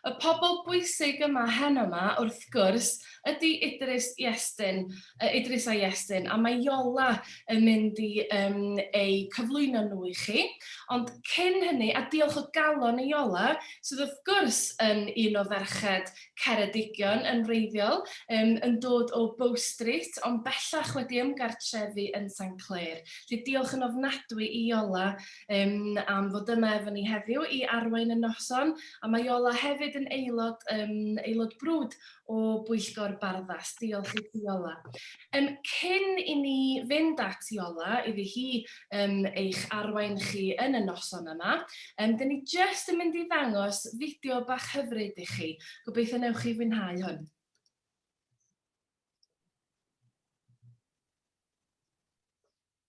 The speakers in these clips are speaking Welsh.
Y pobl bwysig yma heno 'ma, wrth gwrs, ydy Idris Iestyn, yy Idris a Iestyn, a mae Iola yn mynd i um, eu cyflwyno nhw i chi. Ond cyn hynny, a diolch o galon i Iola, sydd wrth gwrs yn un o ferched Ceredigion yn wreiddiol, yym, yn dod o Bow Street, ond bellach wedi ymgartrefu yn Saint Clêr. Felly diolch yn ofnadwy i Iola um, am fod yma efo ni heddiw i arwain y noson, a mae Iola hefyd yn aelod, um, aelod brwd o Bwyllgor Barddas. Diolch i ti Iola. Yym, cyn i ni fynd at Iola iddi hi yym eich arwain chi yn y noson yma, yym 'dyn ni jyst yn mynd i ddangos fideo bach hyfryd i chi, gobeithio newch chi fwynhau hwn.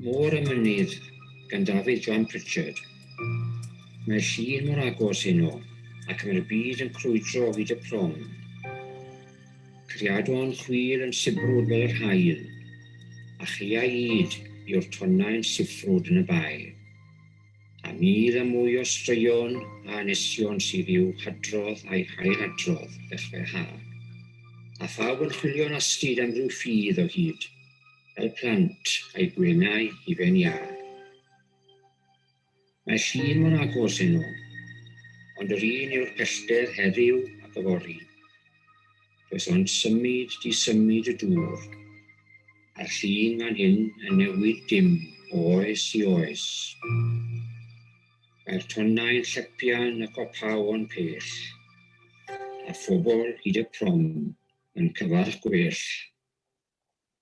Môr y Mynydd gan Dafydd John Pritchard. Mae llun mor agos heno ac mae'r byd yn crwydro o hyd y prom. Criadon chwil yn sibrwd fel yr haul, a chiau id yw'r tonnau'n siffrwd yn y bae. A mîl a mwy o straeon a anesion sydd i'w hadrodd a'i hailadrodd ddechrau ha. A phawb yn chwilio'n astud am ryw ffydd o hyd, fel plant, a'i gwenau hufen iâ. Mae llun mor agos heno, ond yr un yw'r pellter heddiw ac yfory. Does ond symud di symud y dŵr, a'r llun fan hyn yn newid dim o oes i oes. Mae'r tonnau'n llepian y copaw o'n pell, a phobl hyd y prom yn cyfarch gwell.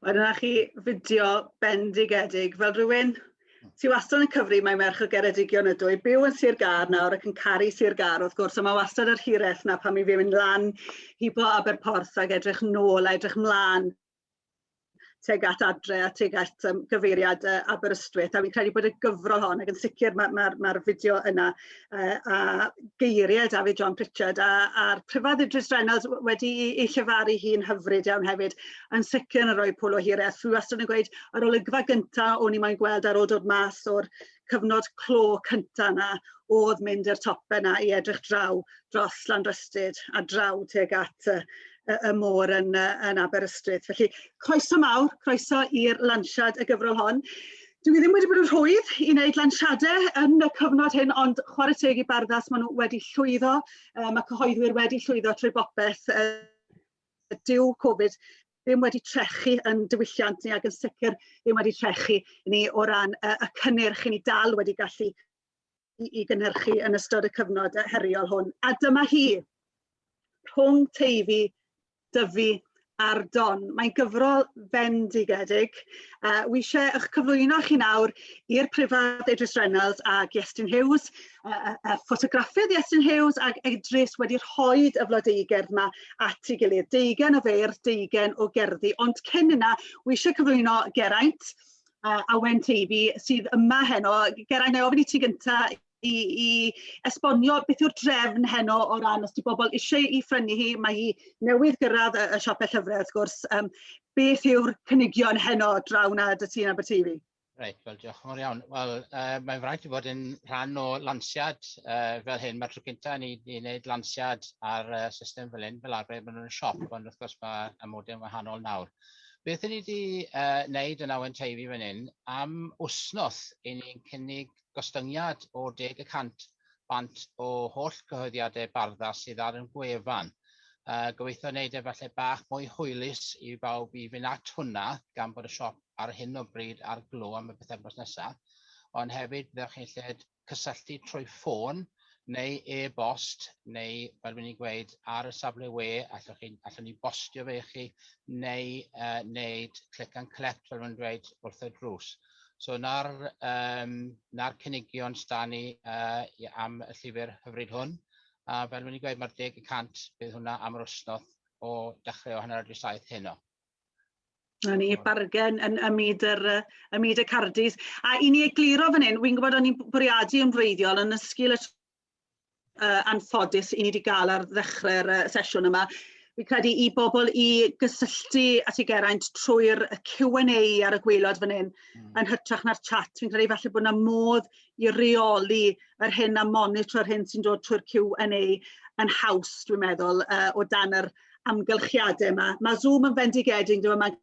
Wel dyna chi fideo bendigedig fel rhywun sy wastad yn cyfri mae merch o Geredigion ydw i byw yn Sir Gâr nawr ac yn caru Sir Gâr wrth gwrs a mae wastad yr hireth na pan mi fi'n mynd lan i bo Aberporth ac edrych nôl a edrych mlaen teg at adre a teg at um, gyfeiriad uh, Aberystwyth a fi'n credu bod y gyfrol hon ac yn sicr mae'r ma, ma, ma fideo yna yy a geirie David John Pritchard a a'r Prifardd Idris Reynolds wedi i i llefaru hi'n hyfryd iawn hefyd yn sicr yn rhoi pwl o hir a thw wastad yn gweud yr olygfa gynta' o'n i moyn gweld ar ôl dod mas o'r cyfnod clo cynta' 'na o'dd mynd i'r tope 'na i edrych draw dros Llanrystud a draw tuag at y y, y môr yn, uh, yn Aberystwyth. Felly, croeso mawr, croeso i'r lansiad y gyfrol hon. Dwi ddim wedi bod yn rhwydd i wneud lansiadau yn y cyfnod hyn, ond chwarae teg i barddas, maen nhw wedi llwyddo, um, mae cyhoeddwyr wedi llwyddo trwy bopeth. Uh, dyw Covid ddim wedi trechu yn diwylliant ni ac yn sicr ddim wedi trechu ni o ran uh, y cynnyrch i ni dal wedi gallu i, i gynhyrchu yn ystod y cyfnod heriol hwn. A dyma hi, rhwng Teifi, Dyfi a'r Don. Mae'n gyfrol fendigedig. Uh, wi eisiau eich cyflwyno chi nawr i'r prifad Edris Reynolds a Iestyn Hughes, y uh, uh, ffotograffydd Iestyn Hughes ac Edris wedi rhoi y flodeugerdd yma at ei gilydd. Deugen o feirdd, deugen o gerddi. Ond cyn yna, wi eisiau cyflwyno Geraint, a Awen Teifi sydd yma heno. Geraint, nai ofyn i ti gynta' i i esbonio beth yw'r drefn heno o ran os 'di bobol isie 'i phrynu hi mae hi newydd gyrradd y y siope llyfre wrth gwrs yym beth yw'r cynigion heno draw 'na 'da ti yn Aberteifi? Reit, wel diolch yn fawr iawn. Wel, yy mae'n fraint i fod yn rhan o lansiad yy fel hyn. Mae'r tro cynta' i ni i wneud lansiad ar y system fel hyn. Fel arfer maen nhw'n y siop, ond wrth gwrs ma' y modeau'n wahanol nawr. Beth i ni wedi wneud yn Awen Teifi fan hyn am wythnos, i ni'n cynnig gostyngiad o deg y cant bant o holl gyhoeddiadau Barddas sydd ar ein gwefan. Gobeithio wneud e falle bach mwy hwylus i bawb i fynd at hwnna, gan bod y siop ar hyn o bryd ar glo am y pythefnos nesaf, ond hefyd fyddwch chi'n lled cysylltu trwy ffôn neu e-bost neu fel rwy'n i'n gweud ar y safle we allwch chi, allwn ni bostio fe i chi neu uh, wneud click and collect fel rwy'n dweud wrth y drws. So na'r, um, na'r cynigion sda ni uh, am y llyfr hyfryd hwn. A fel rwy'n i'n gweud mae'r deg y cant bydd hwnna am yr wsnodd o dechrau o hanner awr 7 heno. Na ni, bargen yn ym myd yr yy ym myd y cardis. A i ni egluro fan hyn, wi'n gwybod o'n i'n bwriadu yn wreiddiol yn ysgil y uh, anffodus i ni wedi cael ar ddechrau'r uh, sesiwn yma. Fi'n credu i bobl i gysylltu at ei geraint trwy'r Q&A ar y gweilod fan hyn, mm. yn hytrach na'r chat. Fi'n credu falle bod yna modd i reoli yr hyn a monitro'r hyn sy'n dod trwy'r Q&A yn haws, dwi'n meddwl, uh, o dan yr amgylchiadau yma. Mae Zoom yn fendigedig, dyma mae'n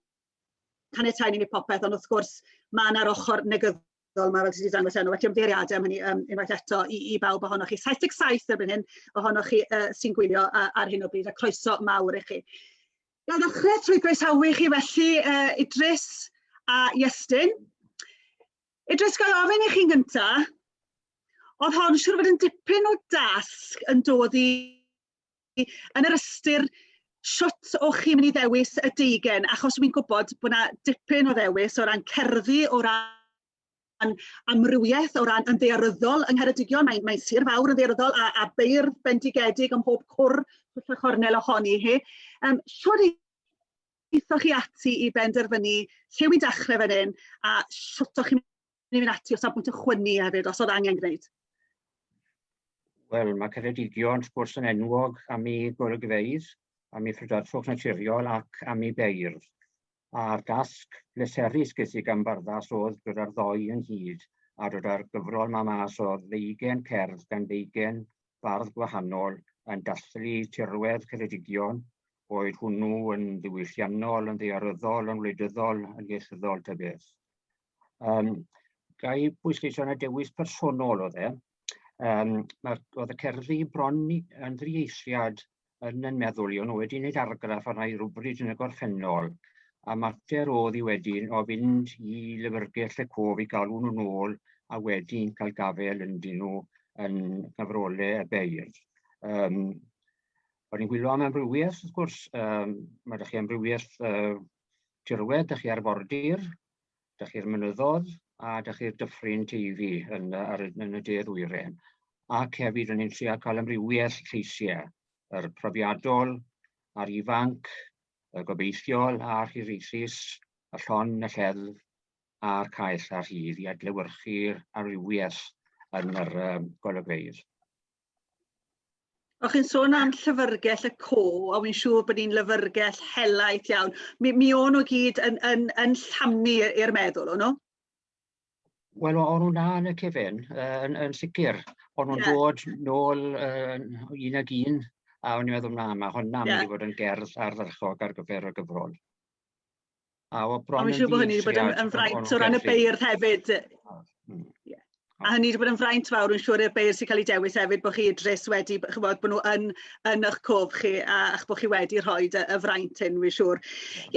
caniatau ni wneud popeth, ond wrth gwrs mae yna'r ochr negydd dyfodol yma fel ti wedi dangos enw felly ymddeiriadau am hynny um, unwaith eto i, i bawb ohonoch chi 77 erbyn hyn ohonoch chi uh, sy'n gwylio uh, ar hyn o bryd a croeso mawr i chi. Gael ddechrau trwy groesawu chi felly uh, Idris a Iestyn. Idris, gael ofyn i chi'n gyntaf, oedd hon siwr fod yn dipyn o dasg yn dod i yn yr ystyr shwt o'ch chi'n mynd i ddewis y deugen achos wi'n gwybod bod 'na dipyn o ddewis o ran cerddi o ran amrywiaeth o ran yn ddaearyddol yng Ngheredigion mae'n mae'n sir fawr yn ddaearyddol a a beirdd bendigedig ym mhob cwr twll a chornel ohoni hi yym shwt eithoch chi ati i benderfynu lle wi'n dechre fan hyn a shwt o'ch chi'n Ni'n mynd ati o safbwynt y chwynnu hefyd, os oedd angen gwneud. Wel, mae Ceredigion, wrth gwrs, yn enwog am ei golygfeydd, am ei phrydferthwch naturiol ac am ei beirdd. A'r dasg bleserus ges i gan barddas oedd dod â'r ddoi ynghyd a dod â'r gyfrol ma mas o ddeugen cerdd gan ddeugen bardd gwahanol yn dathlu tirwedd Ceredigion, boed hwnnw yn ddiwylliannol, yn ddearyddol, yn wleidyddol, yn ieithyddol, ta beth. Um, ga i bwysleisio na dewis personol oedd e. Um, oedd y cerddi bron yn ddrieithriad yn yn meddwl i, o'n nhw wedi gwneud argraff arna i rhywbryd yn y gorffennol, a mater oedd i wedyn o fynd i lyfrgell y cof i galw nhw'n ôl a wedyn cael gafel yn dyn nhw yn cyfrolau y beirdd. Um, O'n i'n gwylio am amrywiaeth, wrth gwrs, um, mae ydych chi amrywiaeth uh, tirwedd, ydych chi arfordir, 'da chi'r mynyddodd a 'da chi'r dyffryn TV yn, yy, ar y, yn y de ddwyren. Ac hefyd o'n i'n trio cael amrywiaeth lleisiau, yr profiadol, a'r ifanc, y gobeithiol a'r hiraethus, y llon, y lleddf a'r caeth a'r rhydd i adlewyrchu'r amrywiaeth yn yr um, golygfeydd. O'ch chi'n sôn am llyfyrgell y co a wi'n siŵr bod ni'n lyfyrgell helaeth iawn. Mi, mi o'n nhw gyd yn, yn, yn llamu i'r meddwl, o'n nhw? Wel, o'n nhw'n dda yn y cefn, yn, yn sicr. O'n nhw'n yeah. dod nôl uh, un ag un, a o'n i'n meddwl, na, mae hwnna yeah. mynd i fod yn gerdd ardderchog ar gyfer y gyfrol. A o bron yn siŵr bod hynny wedi bod yn, yn fraint o ran y beirdd hefyd. Hmm. A hynny wedi bod yn fraint fawr, yn siŵr, i'r beirdd sy'n cael ei dewis hefyd, bod chi dres wedi, chybod, bod nhw yn, yn eich cof chi, a, a'ch bod chi wedi rhoi y, y fraint hyn, fi'n siŵr.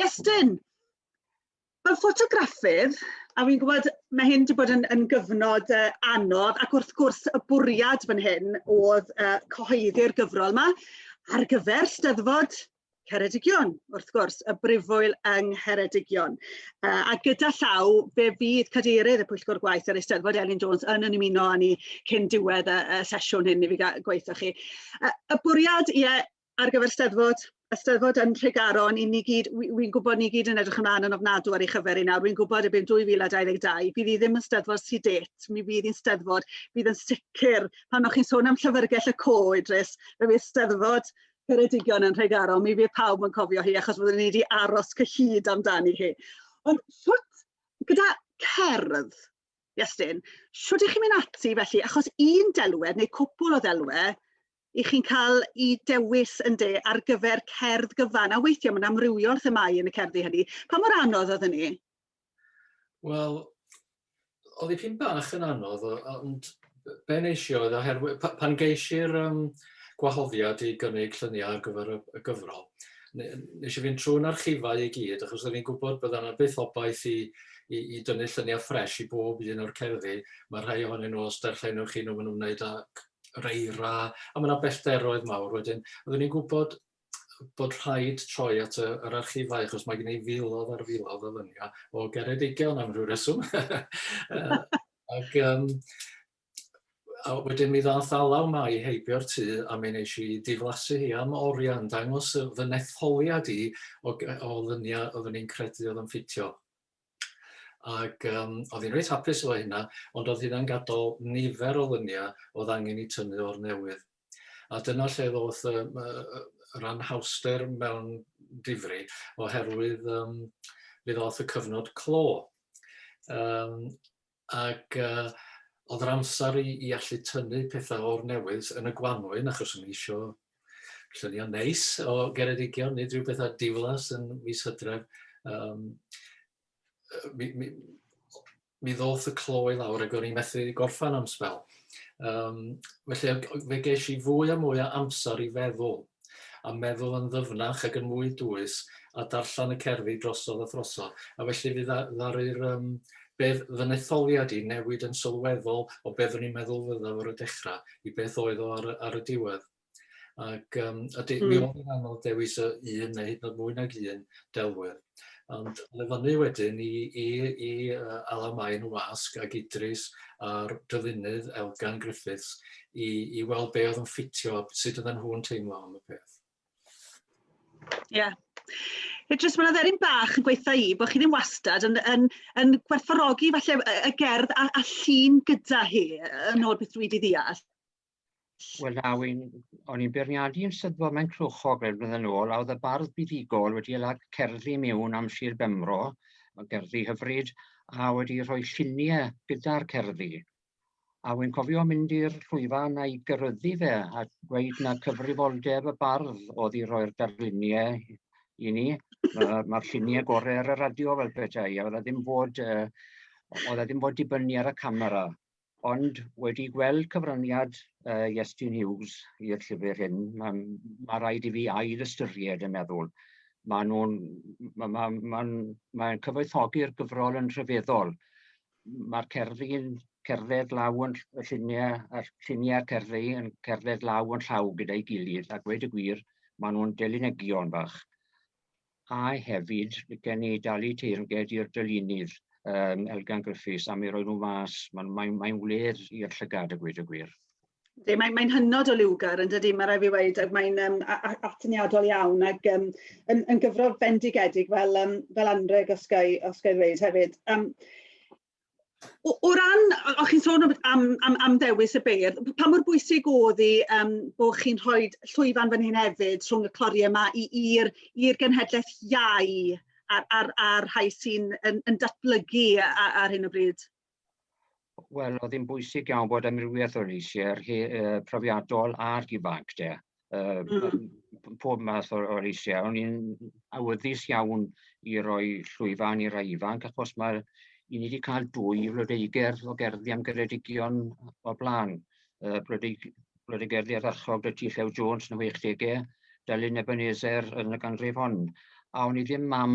Iestyn, fel ffotograffydd, a fi'n gwybod mae hyn wedi bod yn, yn gyfnod uh, anodd, ac wrth gwrs y bwriad fan hyn oedd uh, cyhoeddi'r gyfrol yma ar gyfer Steddfod Ceredigion wrth gwrs y Brifwyl yng Ngheredigion uh, a gyda llaw fe fydd cadeirydd y Pwyllgor Gwaith yr Eisteddfod Elin Jones yn yn ymuno â ni cyn diwedd y, y sesiwn hyn i fi gweithio chi. Uh, y bwriad ie, ar gyfer Eisteddfod Eisteddfod yn Nhregaron, i ni gyd, wy'n wi gwybod ni gyd yn edrych ymlaen yn ofnadw ar ei chyfer i nawr, wy'n gwybod erbyn 2022, bydd hi ddim yn steddfod sy'n det, mi fydd hi'n steddfod, bydd yn sicr, pan o'ch chi'n sôn am llyfrgell y co, Idris, fe fydd steddfod Ceredigion yn Nhregaron, mi fydd pawb yn cofio hi achos byddwn ni wedi aros cyhyd amdani hi. Ond sut, gyda cerdd, Iestyn, sut ych chi'n mynd ati felly, achos un delwedd neu cwpwl o ddelwedd i chi'n cael i dewis yn de ar gyfer cerdd gyfan, a weithiau mae'n amrywiol themau yn y cerddi hynny. Pa mor anodd oedd hynny? Wel, oedd ei pyn bach yn anodd, ond be nes i oedd oherwydd pa- pan geis i'r yym, gwahoddiad i gynnig lluniau ar gyfer y, y gyfrol, ne- nes i fynd trwy'n archifau i gyd, achos oeddwn i'n gwybod bydda yna byth obaith i, i, i dynnu lluniau ffres i bob un o'r cerddi. Mae rhai ohonyn nhw, os darllenwch chi nhw, maen nhw'n wneud â reira, a mae yna bellteroedd mawr wedyn. Oeddwn i'n gwybod bod rhaid troi at y, yr archifau, achos mae gen i filodd ar filodd o lyniau o Geredigion am rhyw reswm. ac um, a wedyn mi ddath alaw mai heibio'r tŷ a mi nes i diflasu hi am oriau yn dangos fy netholiad i o, o lyniau oeddwn i'n credu oedd yn ffitio. Ac um, oedd hi'n reit hapus efo hynna, ond oedd hynna'n gadael nifer o lyniau oedd angen i tynnu o'r newydd. A dyna lle ddoth y, yr anhawster mewn difri, oherwydd um, fe ddoth y cyfnod clo. Um, ac yy o'dd yr amsar i i allu tynnu petha o'r newydd yn y gwanwyn achos o'n i isio llunia'n neis o Geredigion, nid rhyw betha diflas yn mis Hydref. Yym yy mi mi mi ddoth y clo i lawr ac o'n i methu gorffan am sbel. Yym felly fe gesh i fwy a mwy o amsar i feddwl a meddwl yn ddyfnach ac yn mwy dwys, a darllen y cerddi drosodd a throsodd, a felly fe ddaru'r um, bedd fy netholiad i newid yn sylweddol o beth o'n i'n meddwl fyddaf ar y dechrau i beth oedd o ar, ar y diwedd. Ac um, a de, mm. mi hmm. oedd yn anodd dewis y un neu hyd yn oed mwy nag un delwedd. Ond yn y fyny wedyn i, i, i uh, Alan Main y Wasg ac Idris a'r dyfunydd Elgan Griffiths i, i weld be oedd yn ffitio, sut oedden nhw'n teimlo am y peth. Ie. Yeah. Idris, mae'n dderin bach yn gweitha i bod chi ddim wastad yn, yn, yn gwerthfawrogi falle y gerdd a, a llun gyda hi yn ôl beth dwi wedi ddeall. Wel na, wy'n... o'n i'n beirniadu yn Sir Fôn mae'n Clwchog rhai blynedd yn ôl, a oedd y bardd buddugol wedi ei lag cerddi mewn am Sir Benfro, mae'n gerddi hyfryd, a wedi rhoi lluniau gyda'r cerddi. A wy'n cofio mynd i'r llwyfan a'i gyrryddu fe, a dweud na cyfrifoldeb y bardd oedd i roi'r darluniau i ni. Mae'r ma lluniau gorau ar y radio fel petai, a oedd ddim fod, uh, oedd ddim fod dibynnu ar y camera. Ond wedi gweld cyfraniad yy Iestyn Hughes i'r llyfr hyn, ma' ma' raid i fi ail ystyried yn meddwl. Ma' nw'n ma' ma' ma'n mae'n cyfoethogi'r gyfrol yn rhyfeddol. Ma'r cerddi'n cerdded law yn ll- y llunie a'r llunia'r cerddi yn cerdded law yn llaw gyda'i gilydd a gweud y gwir ma' nw'n delinegion bach. a hefyd gen ni dalu teyrnged i'r dylunydd um, Elgan Griffiths am ei roi nhw mas. Mae'n mae, mae wledd i'r llygad y gwyd y gwir. Mae'n mae, mae hynod o liwgar yn dydy, mae rai fi weid, ac mae'n um, atyniadol iawn ac um, yn, yn gyfrol fendigedig fel, um, fel anreg os gael ei ddweud hefyd. Um, O, o ran, o chi'n sôn am, am, am ddewis y beirdd, pa mor bwysig oedd i um, bod chi'n rhoi llwyfan fan hyn hefyd rhwng y clori yma i'r genhedlaeth iau a'r, ar, ar rhai sy'n yn, yn datblygu ar, ar hyn o bryd? Wel, oedd hi'n bwysig iawn bod amrywiaeth o leisiau uh, profiadol a'r ifanc de. uh, mm. pob math o'r, or eisiau. O'n i'n awyddus iawn i roi llwyfan i rai ifanc, achos mae'r i ni wedi cael dwy flodeuger o gerddi am geredigion o blaen. Uh, Blodeugerdi arachog y Llew Jones yn y 60au, Dalun Ebenezer yn y ganrif hon. A o'n i ddim mam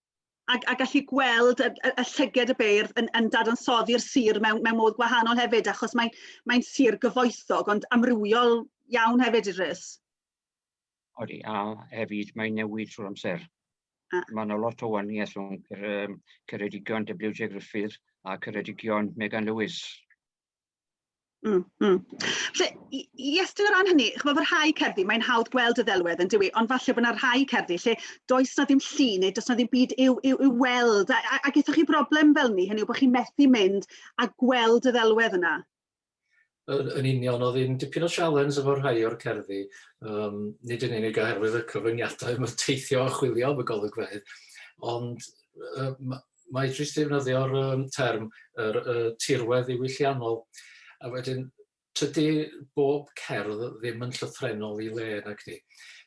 a, a gallu gweld y, y, y llyged y beirdd yn, yn dadansoddi'r sir mewn, mewn modd gwahanol hefyd achos mae'n mae sir gyfoethog ond amrywiol iawn hefyd i rhys. Odi, a hefyd mae'n newid trwy'r amser. Ah. Mae yna lot o waniaeth rhwng um, Ceredigion WJ Griffith a Ceredigion Megan Lewis. Mm, mm. Felly, yes, dwi'n rhan hynny, chymod, fy rhai cerddi, mae'n hawdd gweld y ddelwedd yn dywi, ond falle bod yna rhai cerddi lle does na ddim llu neu does na ddim byd i'w, i'w, i'w weld, a, a, a gyda chi broblem fel ni, hynny yw bod chi'n methu mynd a gweld y ddelwedd yna. Yn, yn union, oedd hi'n dipyn o sialens efo rhai o'r cerddi, um, nid yn unig oherwydd y cyfyngiadau mae'n teithio a chwilio am y golygfeydd, ond uh, mae jyst defnyddio'r um, term yr uh, tirwedd ddiwylliannol. A wedyn, tydy bob cerdd ddim yn llythrenol i le nag ni.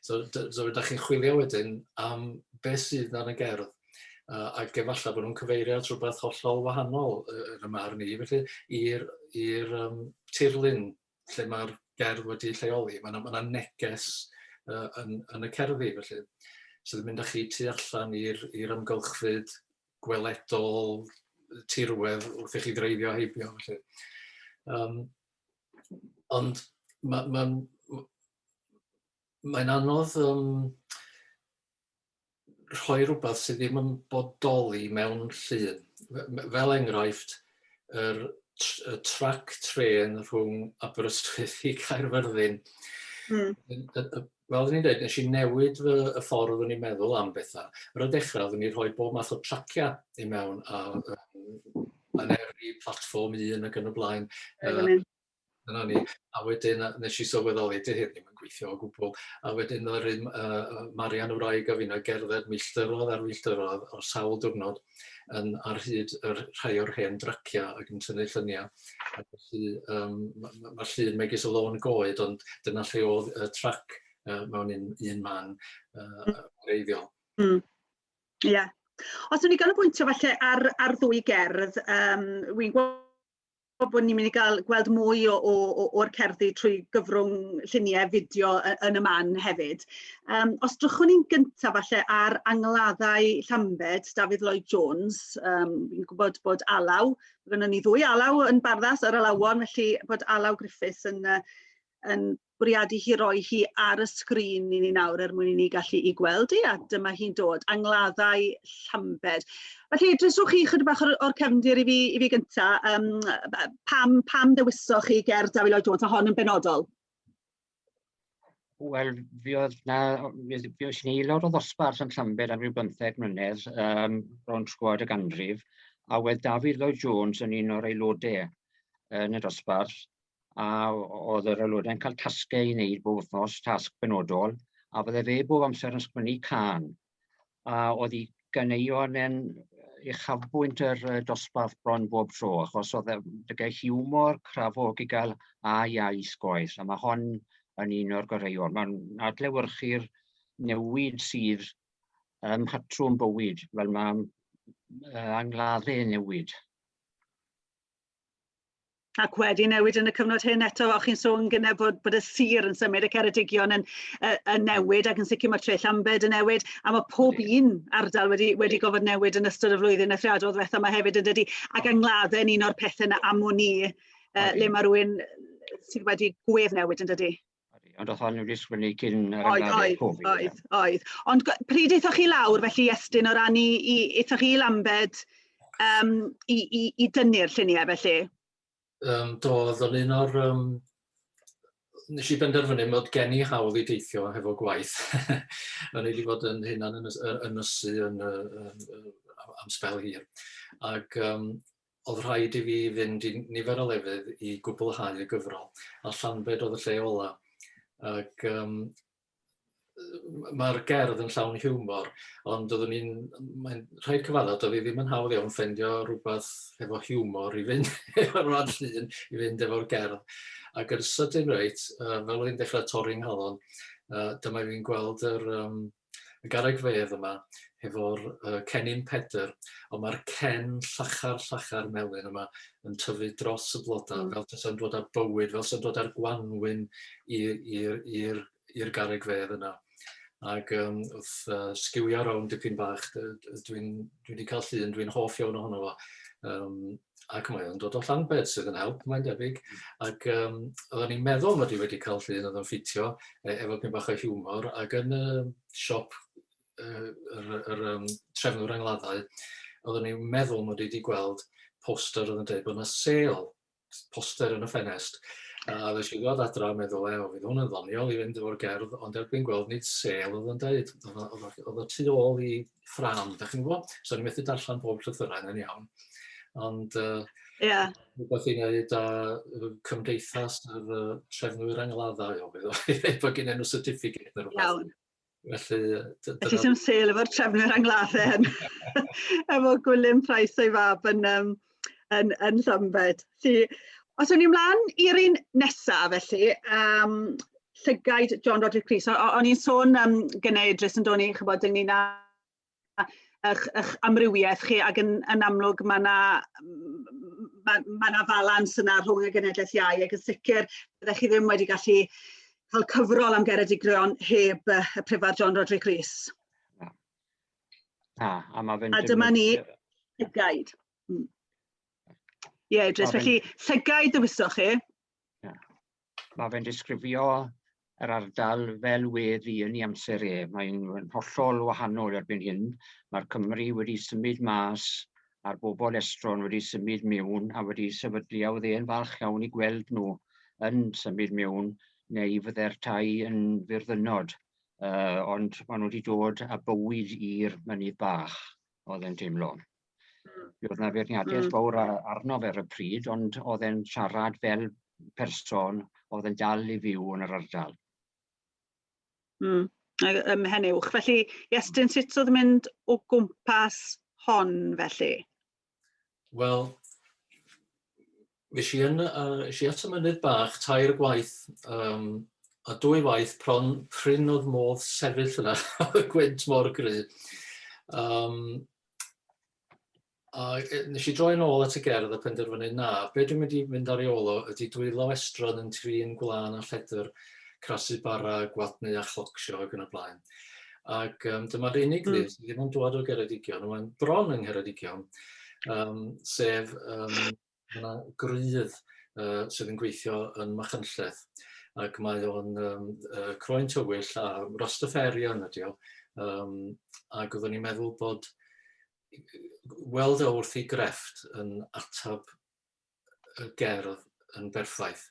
So, so ydych chi'n chwilio wedyn am beth sydd yn y gerdd uh, ac efallai bod nhw'n cyfeirio at rhywbeth hollol wahanol yn y marn i, felly i'r um, tirlun lle mae'r gerdd wedi lleoli, mae yna, ma yna neges uh, yn, yn y cerddi felly sydd yn mynd â chi tu allan i'r amgylchfyd gweledol tirwedd wrth i chi ddreifio heibio felly. Um, ond mae'n ma, ma, ma, ma anodd um, rhoi rhywbeth sydd ddim yn bodoli mewn llun. Fel enghraifft, yr y trac trên rhwng Aberystwyth i Caerfyrddin. Mm. Fel oeddwn i'n dweud, nes i newid fy y ffordd o'n i'n meddwl am bethau. Ar y dechrau, oeddwn i'n rhoi bob math o traciau i mewn a yn eri platform un ac yn y blaen. Uh, Dyna ni. A wedyn yy wnes i sylweddoli, 'di hyn ddim yn gweithio o gwbl. A wedyn ddaru m- yy yy Marian, 'y wraig, a finne gerdded milltirodd ar filltirodd ar sawl diwrnod yn ar hyd y rh- rhai o'r hen dryciau ac yn tynnu lluniau. A felly yym ma' ma' ma'r llun megis y lôn goed, ond dyna lle oedd y trac yy mewn un un man yy yy wreiddiol. Mm. Ie. Os wn i ganolbwyntio falle ar ar ddwy gerdd yym wi'n gwe- bod ni'n mynd i gael gweld mwy o, o, o, o'r cerddi trwy gyfrwng lluniau fideo yn y man hefyd. Um, os drychwn ni'n gyntaf falle ar angladdau Llambed, Dafydd Lloyd Jones, um, fi'n gwybod bod Alaw, gynnon ni ddwy Alaw yn barddas ar Alawon, felly bod Alaw Griffiths yn, uh, yn bwriadu hi roi hi ar y sgrin i ni nawr er mwyn i ni gallu i gweld hi a dyma hi'n dod, angladdau llambed. Felly, dryswch chi chydig bach o'r, or cefndir i fi, i fi gynta, um, pam, pam dewisoch chi ger Dawi Lloyd Jones a hon yn benodol? Wel, fi oedd na, fi oedd ni lawr o ddosbarth yn Llambed am rhyw bymtheg mlynedd, um, ro'n sgwad y ganrif, a wedd David Lloyd Jones yn un o'r aelodau yn y dosbarth, a oedd yr aelodau'n cael tasgau i wneud bob wythnos, tasg benodol, a fydde fe bob amser yn sgwennu can. A oedd hi ganeuon yn uchafbwynt yr uh, dosbarth bron bob tro, achos oedd dygau e, hiwmor, crafogigal a iau sgoes, a mae hon yn un o'r goreuon. Mae'n adlewyrchu'r newid sydd ym mhatrwm bywyd, fel mae uh, angladdau newid ac wedi newid yn y cyfnod hyn eto o'ch chi'n sôn gyne bod bod y sir yn symud y Ceredigion yn yy yn newid ac yn sicr mae Tre Llambed yn newid a mae pob un ardal wedi wedi gofod newid yn ystod y flwyddyn ethriadol ddwetha ma hefyd yn dydi ac angladdau yn un o'r pethau yna am wn i yy le mae rhywun sydd wedi gwedd newid yn dydi? Ond oedd hon wedi sgwennu cyn yr Oedd, oedd, oedd, oedd. Ond pryd eithoch chi lawr, felly Estyn, o ran i, i eithoch chi i Lambed um, i, i, i dynnu'r lluniau felly? Um, do, oedd o'n un o'r... Um, nes i benderfynu mod gen i hawl i deithio hefo gwaith. o'n i wedi bod yn hyn yn ynysu yn, yn, yn, yn, am spel hir. Ac um, Oedd rhaid i fi fynd i nifer o lefydd i gwblhau y gyfrol, a Llanbed oedd y lle ola. Ac um, mae'r gerdd yn llawn hiwmor, ond doeddwn i'n... Mae'n rhaid cyfadda, doedd hi ddim yn hawdd iawn ffendio rhywbeth efo hiwmor i fynd efo'r rhan llun, i fynd efo'r gerdd. Ac yn sydyn reit, uh, fel oedd hi'n dechrau torri'n nghalon, uh, dyma fi'n gweld yr, um, y garreg fedd yma hefo'r yy cennin Pedr ond mae'r cen llachar llachar melyn yma yn tyfu dros y bloda mm. fel tasa'n dod â bywyd fel sa'n dod â'r gwanwyn i'r i'r i'r i'r garreg fedd yna ac um, wrth uh, sgiwio rownd dipyn bach, dwi'n dwi wedi cael llun, dwi'n hoff iawn ohono fo. Um, ac mae o'n dod o Llanbed sydd yn help mae'n debyg ac um, oedden ni'n meddwl mod i wedi cael llun oedd o'n ffitio e, efo pyn bach o hiwmor ac yn y uh, siop uh, yr, yr um, trefnwr angladdau oedden ni'n meddwl mod i wedi gweld poster oedd yn dweud bod yna sel poster yn y ffenest A ddes i ddod adra a meddwl, e, fydd hwn yn ddoniol i fynd efo'r gerdd, ond erbyn gweld nid sel oedd yn dweud, oedd y tu ôl i ffram, da chi'n gwybod? So ni'n methu darllen bob llythyrau yna'n iawn. Ond uh, yeah. rhywbeth i wneud â cymdeithas yr uh, trefnwyr angladdau o beth oedd bod gen enw certificate neu rhywbeth. Iawn. Felly... Felly sy'n sel efo'r trefnwyr angladdau yn efo Gwilym Price o'i fab yn um, yn, yn Llambed. Felly, os o'n i mlaen i'r un nesaf felly, um, llygaid John Roderick Rees. O'n i'n sôn um, gynnau Idris yn doni, chybod, ynglyn â eich, eich amrywiaeth chi ac yn, yn amlwg mae yna ma, ma na falans yna rhwng y genedlaeth iau ac yn sicr byddech chi ddim wedi gallu cael cyfrol am geredigion heb y Prifar John Roderick Rees. A, a mae fe'n... A dyma ni, llygaid. Hmm. Ie, yeah, Idris, felly llygaid dywysoch chi. Mae fe'n disgrifio yr ardal fel wedd i yn ei amser e. Mae'n hollol wahanol erbyn hyn. Mae'r Cymru wedi symud mas a'r bobl estron wedi symud mewn a wedi sefydlu a oedd e'n falch iawn i gweld nhw yn symud mewn neu fydde'r tai yn fyrddynod. uh, ond maen nhw wedi dod a bywyd i'r mynydd bach, oedd e'n teimlo. Mm. Oedd yna feirniadaeth mm. fawr arno fe ar y pryd, ond oedd e'n siarad fel person oedd yn dal i fyw yn yr ardal. Mm. Ym Mhenywch. Felly, Iestyn, sut oedd mynd o gwmpas hon felly? Wel, Nes i yn, uh, nes i at y mynydd bach tair gwaith, um, a dwy waith pron prin oedd modd sefyll yna, y gwynt mor gry. Um, a e, nes i droi'n ôl at y gerdd a penderfynu na, be dwi'n mynd i fynd ar ei ôl o ydy dwylo estron yn trin gwlân a lledr, crasu bara, gwadnu a chlocsio ac yn y blaen. Ac um, dyma'r unig mm. sydd ddim yn dod o Geredigion, mae'n bron yng Ngheredigion, um, sef um, yna grydd uh, sydd yn gweithio yn Machynlleth. Ac mae o'n um, uh, croen tywyll a rostaferion ydi o. Um, ac oeddwn ni'n meddwl bod weld e wrth ei grefft yn atab y gerdd yn berffaith.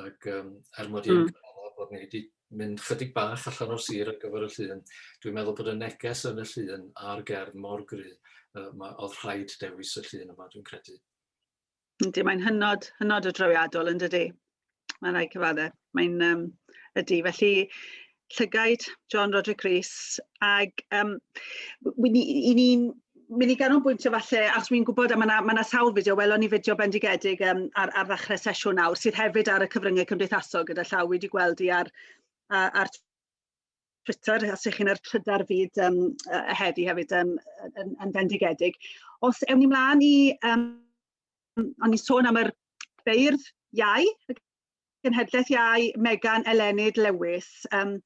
Ac um, er mod i'n mm. bod ni wedi mynd chydig bach allan o'r sir ar gyfer y llun, dwi'n meddwl bod y neges yn y llun a'r gerdd mor gry, uh, mae, oedd rhaid dewis y llun yma, dwi'n credu. Yndi, mae'n hynod, hynod o drawiadol yn dydy. Mae'n rhaid cyfaddau. Mae'n um, ydy. Felly, llygaid John Roderick Rees ac um, i ni'n mynd i ganolbwyntio falle, achos wy'n gwybod, a mae yna ma sawl fideo, welon ni fideo bendigedig um, ar, ar ddechrau sesiwn nawr, sydd hefyd ar y cyfryngau cymdeithasol gyda llaw wedi gweld i ar, ar, ar Twitter, os ych chi'n ar trydar fyd um, heddi hefyd um, yn, yn bendigedig. Os ewn ni mlaen i um, o'n i'n sôn am yr beirdd iau, y genhedlaeth iau, Megan Elenid Lewis, um,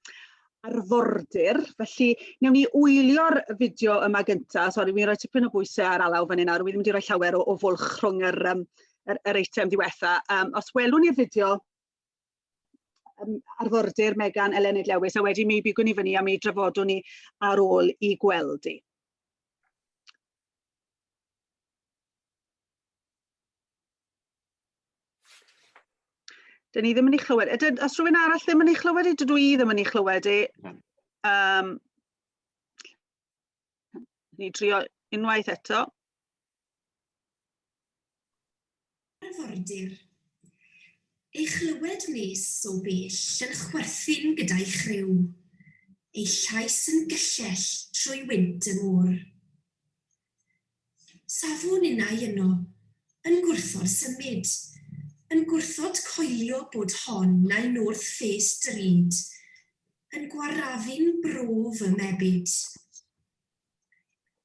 arfordir, felly newn ni wylio'r fideo yma gyntaf, sori, fi'n rhoi tipyn o bwysau ar alaw fan hyn nawr, fi'n mynd i roi llawer o, o fwlch rhwng yr, um, yr, yr eitem diwetha. Um, os welwn ni'r fideo, um, arfordir Megan Elenid Lewis, a wedi mi bigwn i fyny a mi drafodwn ni ar ôl i gweld i. Dyn ni ddim yn ei chlywed. Ydyn, os rhywun arall ddim yn ei chlywed, dydw i ddim yn ei chlywed e. Um, ni drio unwaith eto. Arfordir. Ei chlywed nes o bell yn chwerthin gyda'i chryw, ei llais yn gyllell trwy wynt y môr. Safwn innau yno, yn gwrthod symud, yn gwrthod coelio bod hon nai North Face drud, yn gwarrafu'n bro fy mebyd.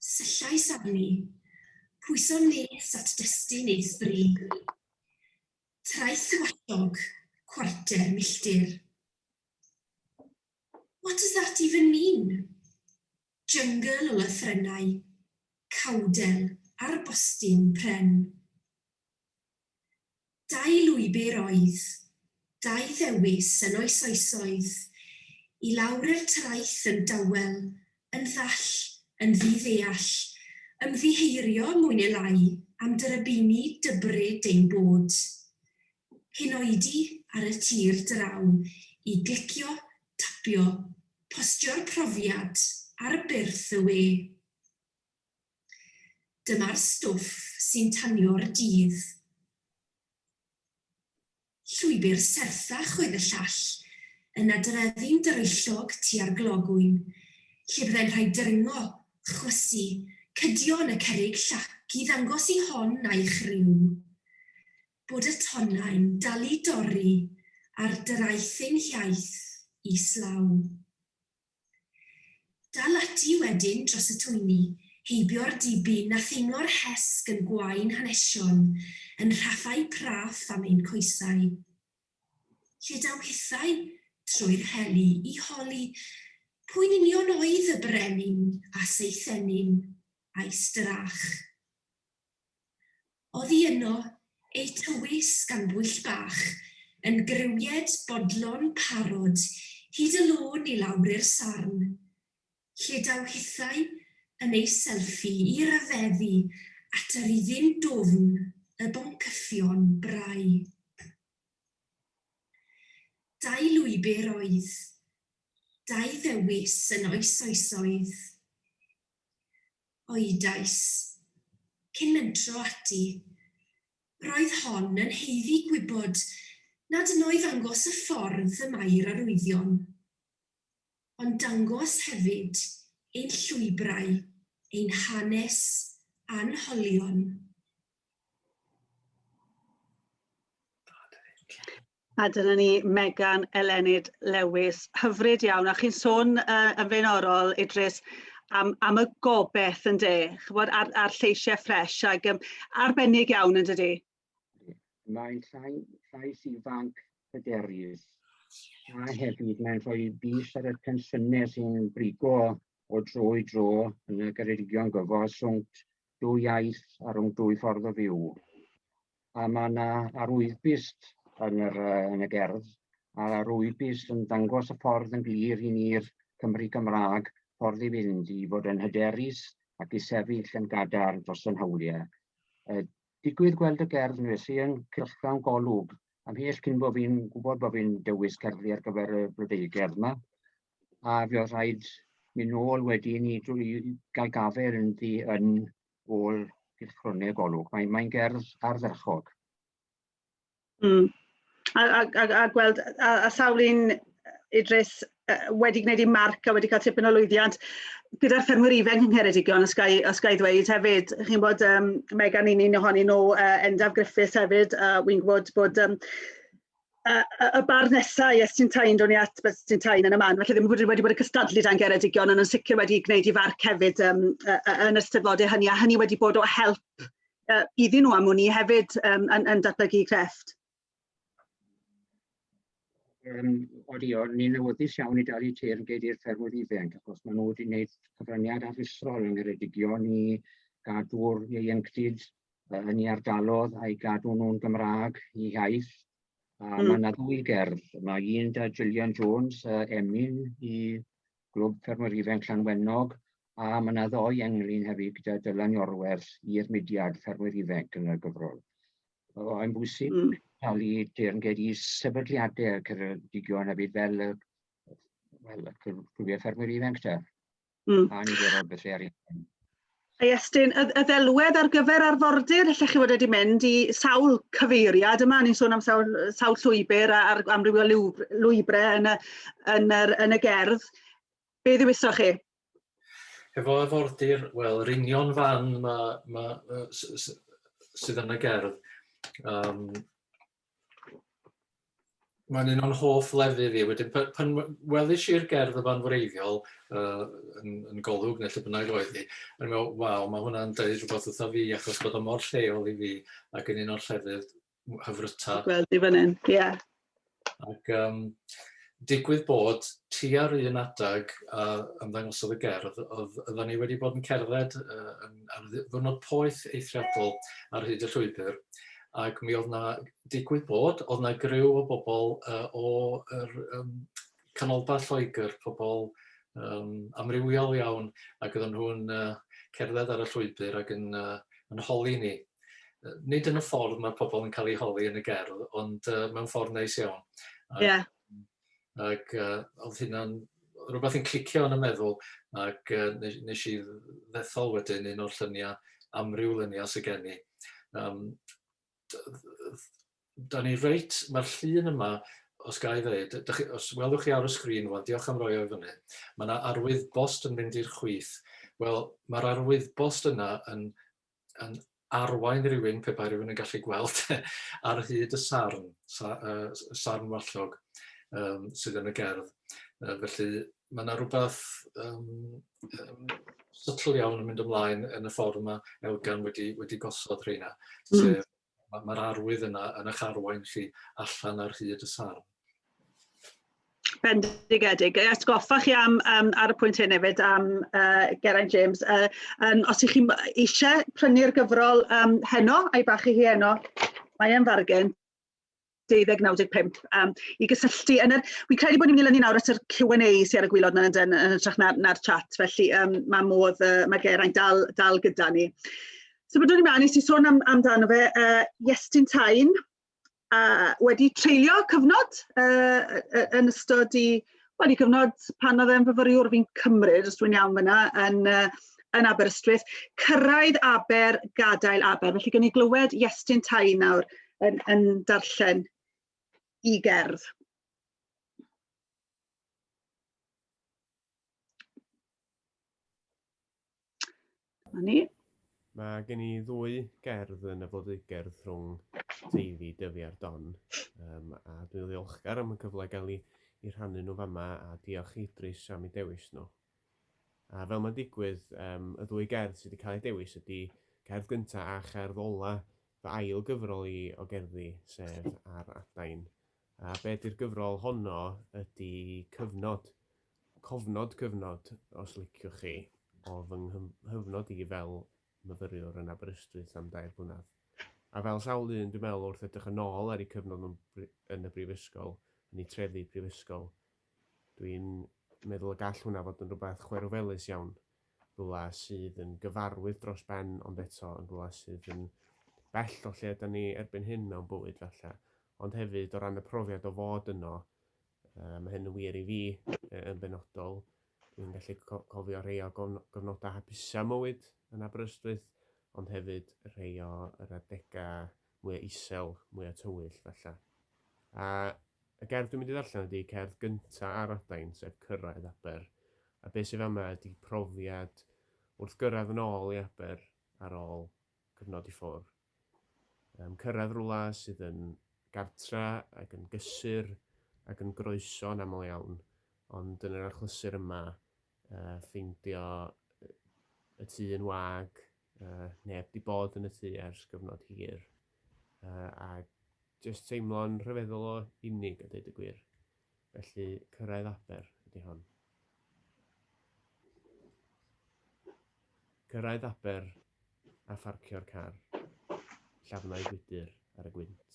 Syllais arni, pwyso nes at destun ei thri. Traeth tywallog, cwarter milltir. What does that even mean? Jyngl o lythrennau, cawdel ar bostyn pren. Dau lwybr oedd, dau ddewis yn oes oesoedd, i lawr i'r traeth yn dawel, yn ddall, yn ddi-ddeall, ymddiheurio mwy ne' lai am dyrybini dybryd ein bod. hyn oedi ar y tir draw i glicio tapio postio'r profiad ar byrth y we. Dyma'r stwff sy'n tanio'r dydd. Llwybr serthach oedd y llall, yna drefi'n dryllog tua'r glogwyn, lle byddai'n rhaid dringo, chwysu, cydio yn y cerrig llac i ddangos i hon a'i chriw. bod y tonnau'n dal i dorri ar draeth ein hiaith islaw. Dal ati wedyn dros y twyni, heibio'r dibyn a theimlo'r hesg yn gwain hanesion yn rhaffau praff am ein coesau. Lle daw hithau? Trwy'r heli, i holi pwy'n union oedd y brenin a seithennyn a'i strach. Oddi yno, ei tywys gan bwyll bach, yn grywied bodlon parod hyd y lôn i lawr i'r sarn, lle daw hithau yn ei selfie i ryfeddu at yr iddyn dwfn y boncyffion brau. Dau lwybr oedd, dau ddewis yn oes oesoedd, Oedais. Cyn mentro ati. Roedd hon yn haeddu gwybod nad yn oedd angos y ffordd y mae'r arwyddion. Ond dangos hefyd ein llwybrau, ein hanes a'n holion. A dyna ni Megan Elenid Lewis, hyfryd iawn. A chi'n sôn uh, yn flaenorol, Idris, am, am y gobeith yn de, chybod, a'r, ar lleisiau ffres, ac um, arbennig iawn yn dydy. Mae'n llais ifanc hyderus, a hefyd mae'n rhoi bus ar y tensiynau sy'n brigo o dro i dro yn y Geredigion gyfo, swnt dwy iaith a rhwng dwy ffordd o fyw. a mae yna arwyddbyst yn, yr, yn y gerdd, a'r arwyddbyst yn dangos y ffordd yn glir i ni'r Cymry Gymraeg ffordd i fynd i fod yn hyderus ac i sefyll yn gadarn dros yn hawliau. E, digwydd gweld y gerdd yn fes i yn cylchgrawn golwg ymhell cyn bod fi'n gwybod bod fi'n dewis cerddi ar gyfer y blodeuo gerdd yma. A fi oedd rhaid mynd nôl wedyn i, i gael gafael yn, yn ôl gylchgronau y golwg. Mae'n mae gerdd ardderchog. Mm. A, a, a, a gweld, a, a sawl un Idris wedi gwneud ei marc a wedi cael tipyn o lwyddiant gyda'r ffermwyr ifanc yng Ngheredigion, os gai, os gai ddweud hefyd. Chi'n bod, um, Megan, un un ohonyn nhw, uh, Endaf Griffiths hefyd, uh, wy'n gwybod bod um, y, y bar nesaf i Estyn Tain, ro'n i at Estyn Tain yn y man, felly ddim wedi, wedi bod yn cystadlu dan Geredigion, ond yn sicr wedi gwneud i farc hefyd um, yn y steddfodau hynny, a hynny wedi bod o help uh, iddyn nhw am hwn i hefyd um, yn, yn datblygu crefft. Um, Odi, o, ni'n newyddus iawn i dalu teir yn geid i'r ffermwyr ifanc, achos maen nhw wedi gwneud cyfraniad aruthrol yn Geredigion i gadw'r ieuenctid yn ei ardalodd a'i gadw nhw'n Gymraeg, ei hiaith. A mm. mae yna ddwy gerdd. Mae un da Gillian Jones, uh, Emlyn i Glwb Ffermwyr Ifen Llanwenog, a mae yna ddoi englyn hefyd gyda Dylan Iorwerth i'r mudiad Ffermwyr Ifen yn y gyfrol. Mae'n bwysig mm. cael ei deyrnged i sefydliadau Ceredigion hefyd fel, fel y Clwbiau Ffermwyr Ifen gyda. Mm. A ni wedi rhoi ar un. A Estyn, y, y ddelwedd ar gyfer arfordir, lle chi fod wedi mynd i sawl cyfeiriad yma, ni'n sôn am sawl, sawl llwybr a, ar amrywio lwybrau yn y, yn, yr, yn y gerdd. Be ddiwyso chi? Efo arfordir, wel, yr union fan ma, ma, sydd yn y gerdd, um, Mae'n un o'n hoff lefydd i. Wedyn pan, pan welis i'r gerdd o fan wreiddiol uh, yn, yn golwg neu lle bynnag oedd hi, yn meddwl, waw, mae hwnna'n dweud rhywbeth wrtho fi achos bod o mor lleol i fi ac yn un o'r llefydd hyfryta. Gweld i fan hyn, ie. Yeah. Ac um, digwydd bod ti ar un adag a ymddangosodd y gerdd, oedd oedden ni wedi bod yn cerdded uh, ar ddwrnod poeth eithriadol ar hyd y llwybr ac mi oedd 'na... digwydd bod, oedd 'na griw o bobl yy o yr yym canolbarth Lloegr, pobl yym amrywiol iawn ac oedden nhw'n yy cerdded ar y llwybr ac yn yy yn holi ni. Yy nid yn y ffordd mae pobl yn cael eu holi yn y gerdd, ond yy mewn ffordd neis iawn. Ie. ac yy odd hynna'n rwbath yn clicio yn y meddwl ac yy ne- nesh i ddethol wedyn un o'r llunia' amryw lunia' sy gen i yym d- yy dd- 'dan ni reit ma'r llun yma os ga i ddeud yy dych chi os welwch chi ar y sgrin rŵan diolch am roi o i fyny ma' 'na arwyddbost yn mynd i'r chwith wel ma'r arwyddbost yna yn yn arwain rhywun, pe bai rhywun yn gallu gweld, ar hyd y sarn, sa, uh, sarn wallog um, sydd yn y gerdd. Uh, felly mae yna rhywbeth um, um, sytl iawn yn mynd ymlaen yn y ffordd mae Elgan wedi, wedi gosod rheina, mm. sef Mae ma arwydd yna yn eich arwain chi allan ar hyd y sarn. Bendigedig. Ys goffa chi am, um, ar y pwynt hyn hefyd am uh, Geraint James, uh, um, os ych chi eisiau prynu'r gyfrol um, heno, a'i bach i hi heno, mae e'n fargen. deuddeg naw deg pump um, i gysylltu yn yr... Fi'n credu bod ni'n mynd i lynu nawr at yr Q&A sy'n ar y gwylod na'n yn, yn ytrach na'r, na chat, felly um, mae modd, uh, mae Geraint dal, dal gyda ni. So byddwn ni'n mynd i sôn am, amdano fe, uh, Iestyn Tain, uh, wedi treulio cyfnod uh, yn ystod i Wel, i gyfnod pan oedd e'n fyfyriwr fi'n cymryd, os dwi'n iawn fyna, yn, yn Aberystwyth, cyrraedd Aber, gadael Aber. Felly gen i glywed Iestyn Tai nawr yn, yn darllen i gerdd. Dyma ni. Mae gen i ddwy gerdd yn y flodeugerdd rhwng Teifi, Dyfi a'r Don, um, a dwi'n ddiolchgar am y cyfle gael ei, ei rhannu nhw fama a diolch i Idris am ei dewis nhw. A fel mae'n digwydd, um, y ddwy gerdd sydd wedi cael ei dewis ydy cerdd gyntaf a cherdd ola fy ail gyfrol i o gerddi, sef Ar Adain. A be di'r gyfrol honno ydi cyfnod, cofnod cyfnod os liciwch chi, o fy nghyfnod i fel myfyriwr yn Aberystwyth am dair blynedd. A fel sawl un dwi'n meddwl wrth edrych yn ôl ar eu cyfnod yn y brifysgol, yn eu trefi prifysgol, dwi'n meddwl y gall hwnna fod yn rhywbeth chwerwfelus iawn. rhywle sydd yn gyfarwydd dros ben ond eto yn rhywle sydd yn bell o lle yda ni erbyn hyn mewn bywyd falle. Ond hefyd o ran y profiad o fod yno, uh, mae hyn yn wir i fi yn benodol, dwi'n gallu cofio rhai o gofnodau hapusau mywyd yn Aberystwyth, ond hefyd rhai o yr adegau mwya isel, mwya tywyll, falle. A y gerdd dwi'n mynd i ddarllen ydy cerdd gynta ar adain, sef Cyrraedd Aber. A be sydd fama ydy profiad wrth gyrraedd yn ôl i Aber ar ôl cyfnod i ffwr. Um, cyrraedd rwla sydd yn gartra ac yn gysur ac yn groeso yn aml iawn, ond yn yr achlysur yma, uh, ffeindio y tŷ yn wag, Uh, neb di bod yn y tu ers gyfnod hir. Uh, a jyst teimlo'n rhyfeddol o unig a dweud y gwir. Felly cyrraedd aber ydy hon. Cyrraedd aber a pharcio'r car. Llafnau gwydr ar y gwynt.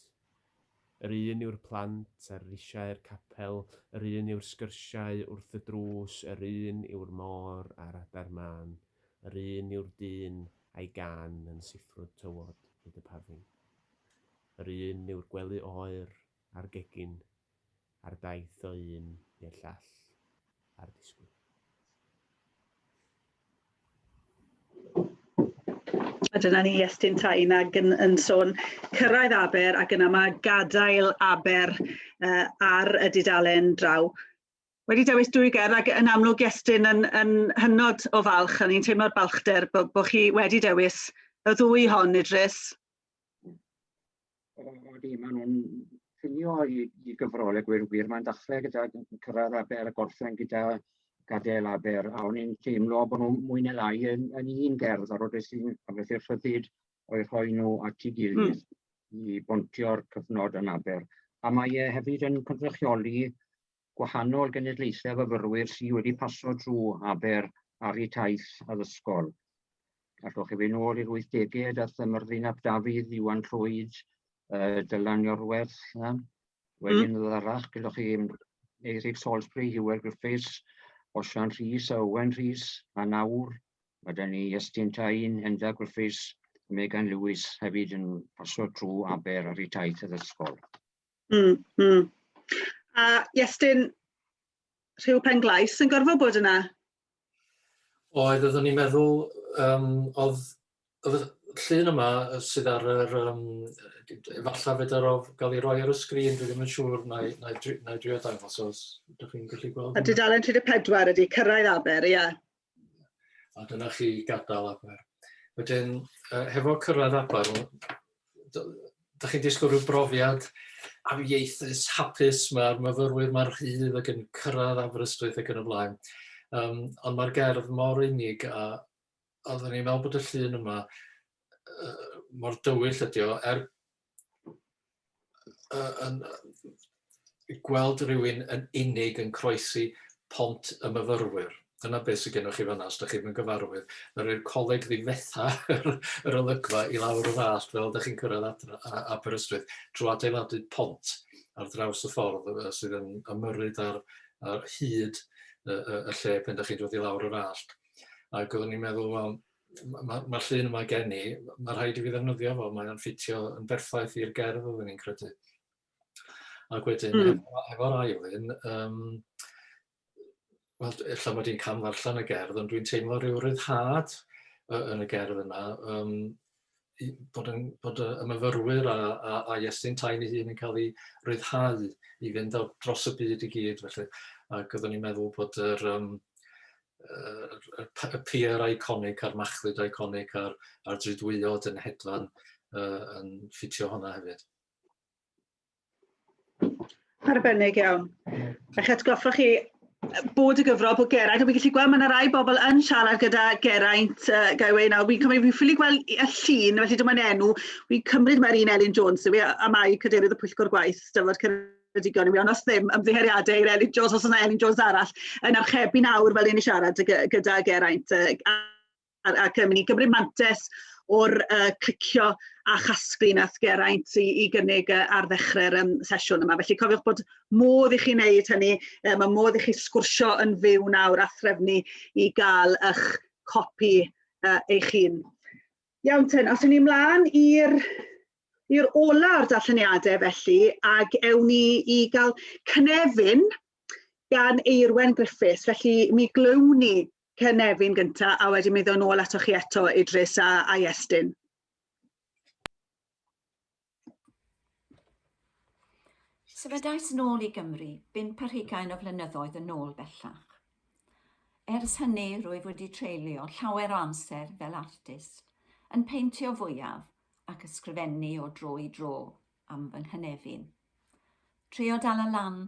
Yr un yw'r plant ar risiau'r capel, yr un yw'r sgyrsiau wrth y drws, yr un yw'r môr a'r adar mân, yr un yw'r dyn a'i gân yn siffrwd tywod hyd y pafin. Yr un yw'r gwely oer a'r gegin, Ar daith o un i'r llall ar disgwyl. A dyna ni Iestyn Tain ac yn, yn sôn cyrraedd Aber ac yna mae gadael Aber uh, ar y dudalen draw. Wedi dewis dwy ger ac yn amlwg Iestyn yn, yn hynod o falch, a ni'n teimlo'r balchder bod, bod chi wedi dewis y ddwy hon, Idris. Odi, maen nhw'n llunio i, i gyfrol y gwir wir. Mae'n dechrau gyda cyrraedd aber a gorffen gyda gadael aber. A o'n i'n teimlo bod nhw'n mwy neu lai yn, yn un gerdd ar ôl sy'n amleth i'r rhyddid o'i rhoi nhw at ei gilydd mm. i bontio'r cyfnod yn aber. A mae e hefyd yn cynrychioli gwahanol genedlaethau fyfyrwyr sy wedi paso drwy Aber ar eu taith addysgol. Allwch chi fynd nôl i'r 80au a Thymrddin ap Dafydd, Iwan Llwyd, uh, Dylan Iorwerth, na? wedyn mm. ddod arall, gyda chi Eirig Salisbury, Hywel Griffiths, Osian Rhys a Owen Rhys, a nawr mae gen i Estyn Tain, Henda Griffiths, Megan Lewis hefyd yn pasio trwy Aber ar ei taith addysgol. Mm, mm. A Iestyn, rhyw pen glais yn gorfod bod yna? Oedd, oeddwn i'n meddwl, um, oedd, oedd llun yma sydd ar yr, um, efallai fedar o gael ei roi ar y sgrin, dwi ddim yn siŵr, na i, na i, na i drio dangos os ydych chi'n gallu gweld. A dudalen 34 ydy, cyrraedd Aber, ie. Yeah. A dyna chi gadael Aber. Wedyn, uh, hefo cyrraedd Aber, da chi'n disgwyl rhyw brofiad amieithus, hapus, mae'r myfyrwyr mae'r rhydd ac yn cyrraedd Aberystwyth ac yn y blaen. Um, ond mae'r gerdd mor unig a oeddwn i'n meddwl bod y llun yma uh, mor dywyll ydi o, er yn, gweld rhywun yn unig yn croesi pont y myfyrwyr. Dyna beth sydd gennych chi fanna, os da chi'n gyfarwydd. Mae rhoi'r coleg ddifetha yr olygfa i lawr y ddall fel da chi'n cyrraedd adra, a, Aberystwyth drwy adeiladu pont ar draws y ffordd sydd yn ymyrryd ar, ar hyd y, y, y lle pen da chi'n dod i lawr yr allt. Ac oeddwn i'n meddwl, wel, mae'r ma, ma llun yma gen i, mae rhaid i fi ddefnyddio fo, mae'n ffitio yn berffaith i'r gerdd oeddwn ni'n credu. Ac wedyn, mm. efo'r efo ail un, um, wel, efallai mod i'n cam ddarllen y gerdd, ond dwi'n teimlo rhyw ryddhad yn y gerdd yna, um, bod, yn, bod y myfyrwyr a, a, a Iestyn Tain ei hun yn cael ei ryddhau i fynd dros y byd i gyd. Felly. Ac oeddwn i'n meddwl bod yr, um, y pier iconic a'r machlud iconic a'r, ar dridwyod yn hedfan uh, yn ffitio hwnna hefyd. Arbennig iawn. A chi atgoffa chi bod y gyfrol bod Geraint, a fi'n gallu gweld mae yna rai bobl yn siarad gyda Geraint uh, Gaiwei nawr, fi'n cymryd, fi'n ffili gweld y llun, felly dyma'n enw, fi'n cymryd mae'r un Elin Jones, yw e, a mae cadeirydd y pwyllgor gwaith, dyfod Ceraint Ceredigion i mi ond os ddim ymddiheuriadau i'r Elin Jones os yna Elin Jones arall yn archebu nawr fel un i siarad gyda Geraint ac yn mynd i gymryd mantes o'r uh, clicio a chasglu nath Geraint i, i gynnig uh, ar ddechrau'r um, sesiwn yma. Felly cofiwch bod modd i chi wneud hynny, um, mae modd i chi sgwrsio yn fyw nawr a threfnu i gael eich copi uh, eich hun. Iawn ten, os ni mlaen i'r i'r ola o'r darlleniadau felly ac ewn ni i gael cynefin gan Eirwen Griffiths. Felly mi glywn ni cynefin gynta a wedyn mi ddod nôl ato chi eto Idris a, a Iestyn. Sefydlais yn ôl i Gymru bump ar hugain o flynyddoedd yn ôl bellach. Ers hynny rwyf wedi treulio llawer o amser fel artist, yn peintio fwyaf ac ysgrifennu o dro i dro am fy nghynefin. Trio dal y lan,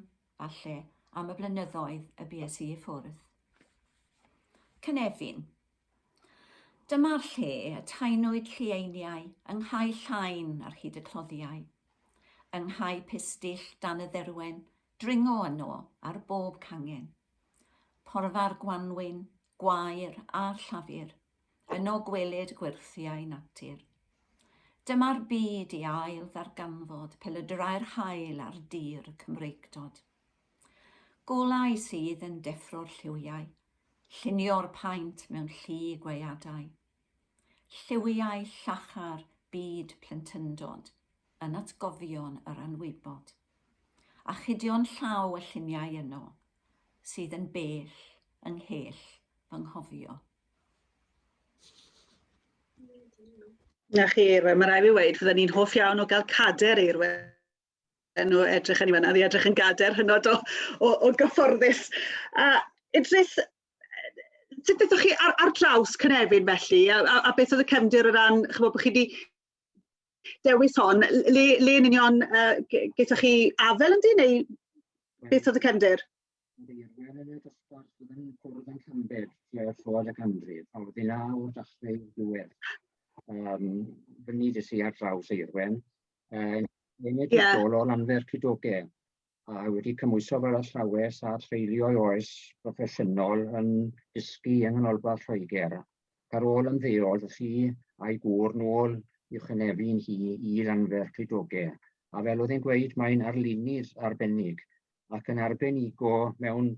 falle, am y blynyddoedd y bues i i ffwrdd. Cynefin, Dyma'r lle y taenwyd llieiniau yng Nghae Llain ar hyd y cloddiau, yng Nghae Pistyll dan y dderwen, dringo yno ar bob cangen. Porfa'r gwanwyn, gwair a'r llafur, yno gwelid gwyrthiau natur. Dyma'r byd i ail ddarganfod pel y drai'r haul ar dir Cymreictod. Golau sydd yn deffro'r lliwiau, llunio'r paent mewn llu gweadau. Lliwiau llachar byd plentyndod yn atgofion yr anwybod. Achudion llaw y lluniau yno, sydd yn bell yng nghell fy nghofio. Na chi, mae rhaid fi weud, fydden ni'n hoff iawn o gael cader eirwedd nhw edrych yn fanna, oedd edrych yn gader hynod o, o, o gyfforddus. A Idris, sut ydych chi ar, ar draws Cynefin felly, a, a, a beth oedd y cefndir o ran, chymod bod chi wedi dewis hon, le, le yn union uh, gyda chi afel yn di, neu beth oedd y cefndir? Ydy, ar gyfer y dosbarth byddwn ni'n cwrdd yn Cambed, lle oedd Llywodd y Ganrif, a wedyn naw o'r dachrau i'r diwedd. Um, fyny dy si ar draws Eirwen, uh, yn enwedig yeah. ôl o'r anfer cydoge, a wedi cymwyso fel athrawes a treulio ei oes broffesiynol yn dysgu yng Nghanolbarth Lloegr. Ar ôl ymddeol, fi a'i gŵr nôl i'w chynefu'n hi i Lanfer Clydogau. A fel oedd e'n gweud, mae'n arlunydd arbennig ac yn arbenigo mewn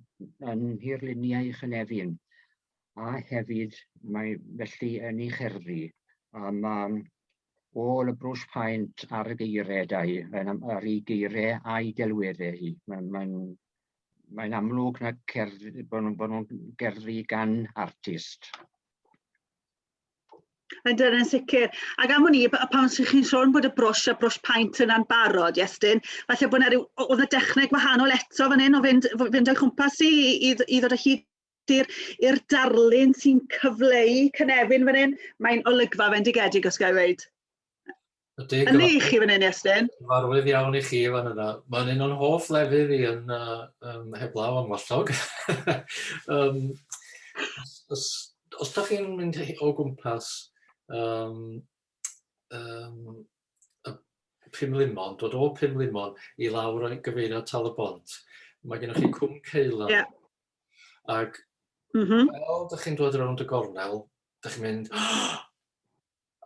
yn nhirluniau Cynefin a hefyd mae felly yn ei cherddi a mae ôl y brwsh paent ar y geiriau da hi, ar ei geiriau a'i delweddau hi. Mae'n mae mae'n amlwg na cerdd, bod nhw'n bod nhw'n gerddi gan artist. Yn dod yn sicr. Ac am hwn i, pan sy'n chi'n sôn bod y brwsh a brwsh paint yna'n barod, Iestyn, falle bod yna rhyw, oedd y dechneg wahanol eto fan hyn o fynd, fynd o'i chwmpas i, i, i ddod o hyd i'r darlun sy'n cyfleu cynefin fan hyn. Mae'n olygfa fendigedig, os gael ei wneud. Ydy, Yn i chi fan hyn, Iestyn? Cyfarwydd iawn i chi fan yna. Mae'n un o'n hoff lefydd i yn uh, um, heblaw am wallog. um, os, os da chi'n mynd o gwmpas um, um, y Pum Limon, dod o Pum Limon i lawr o'i gyfeirio Tal y Bont, mae gennych chi Cwm Ceila. Yeah. Ac mm -hmm. fel da chi'n dod rownd y gornel, da chi'n mynd, oh,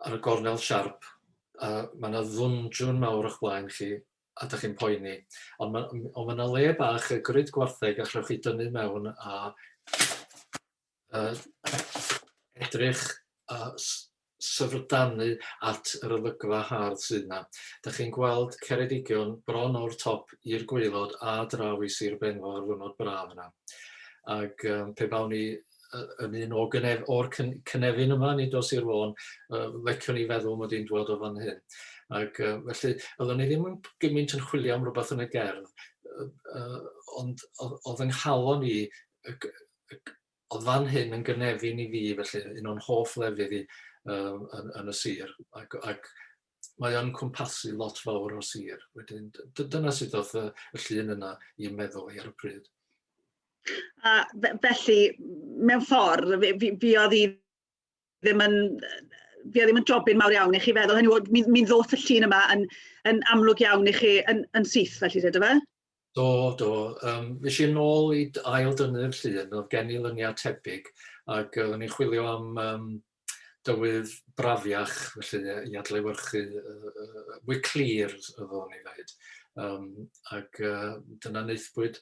ar y gornel siarp a ma' 'na ddwndrwn mawr o'ch blaen chi a 'dach chi'n poeni ond ma' m- on' ma' 'na le bach yy grid gwartheg allwch chi dynnu mewn a yy edrych a s- syfrdanu at yr olygfa hardd sydd 'na. 'Dach chi'n gweld Ceredigion bron o'r top i'r gwaelod a draw i Sir Benfro ar ddiwrnod braf yna ag yym pe bawn i yn un o gynef, o'r cynefin yma, nid o Sir Fôn, uh, leciwn i feddwl mod i'n dwod o fan hyn. Ac uh, felly, oeddwn i ddim yn gymaint yn chwilio am rhywbeth yn y gerdd, uh, uh, ond oedd yng nghalon i, oedd fan hyn yn gynefin i fi, felly un o'n hoff lefydd i uh, yn, yn y sir. Ac, ac mae o'n cwmpasu lot fawr o sir. Wedyn, dyna sut oedd y, y llun yna i'n meddwl i ar y pryd. A felly, mewn ffordd, fi, fi, fi oedd i ddim yn fi oedd ddim yn jobyn mawr iawn i chi feddwl hynny, mi, mi ddoth y llun yma yn, yn amlwg iawn i chi yn, yn syth felly, dydw fe? Do, do. Um, fes i'n ôl i ail dynnu'r llun, oedd gen i lyniau tebyg, ac uh, o'n i'n chwilio am um, dywydd brafiach, felly i adlewyrchu uh, uh, mwy clir, oeddwn i ddweud. Um, ac uh, dyna neithbwyd.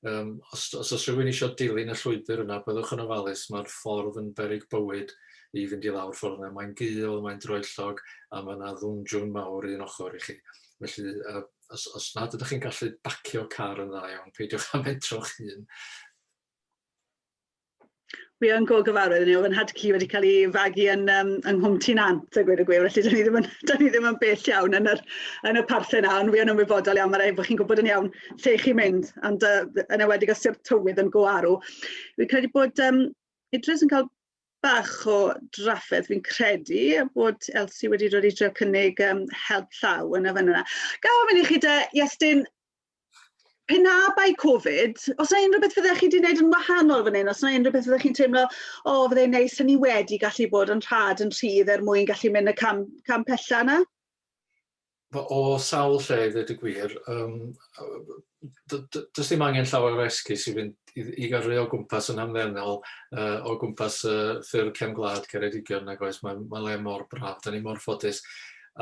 Um, os, os oes rhywun eisiau dilyn y llwybr yna, byddwch yn ofalus, mae'r ffordd yn berig bywyd i fynd i lawr ffordd yna. Mae'n gul, mae'n droellog, a mae yna ddwndwn mawr un ochr i chi. Felly, uh, Os, os nad ydych chi'n gallu bacio car yn dda iawn, peidiwch â mentro'ch hun. Wi yn go gyfarwydd ni, oedd yn hadci wedi cael ei fagu yn, um, yng Nghwmti Nant, a gweud y gwir, felly dyn ni ddim yn, dyn ni ddim yn bell iawn yn, yr, yn y parthen na, ond wi yn ymwybodol iawn, mae'n rhaid bod chi'n gwybod yn iawn lle chi'n mynd, ond uh, yn ewedig os yw'r tywydd yn go arw. Fi'n credu bod um, Idris yn cael bach o drafferth, fi'n credu bod Elsie wedi dod i trio cynnig um, help llaw yn y fan yna. Gael ofyn i chi da, Iestyn, pe na bai Covid, os yna unrhyw beth fyddech chi wedi gwneud yn wahanol fan hyn, os yna unrhyw beth fyddech chi'n teimlo, o, oh, fyddai'n neis, ni wedi gallu bod yn rhad yn rhydd er mwyn gallu mynd y cam, cam pella yna? o sawl lle i ddweud y gwir, yym d- d- does dim angen llawer o esgus i fynd i i gyrru o gwmpas yn hamddenol yy o gwmpas yy ffurf cefn gwlad Ceredigion nag oes, mae'n mae'n le mor braf, 'dan ni mor ffodus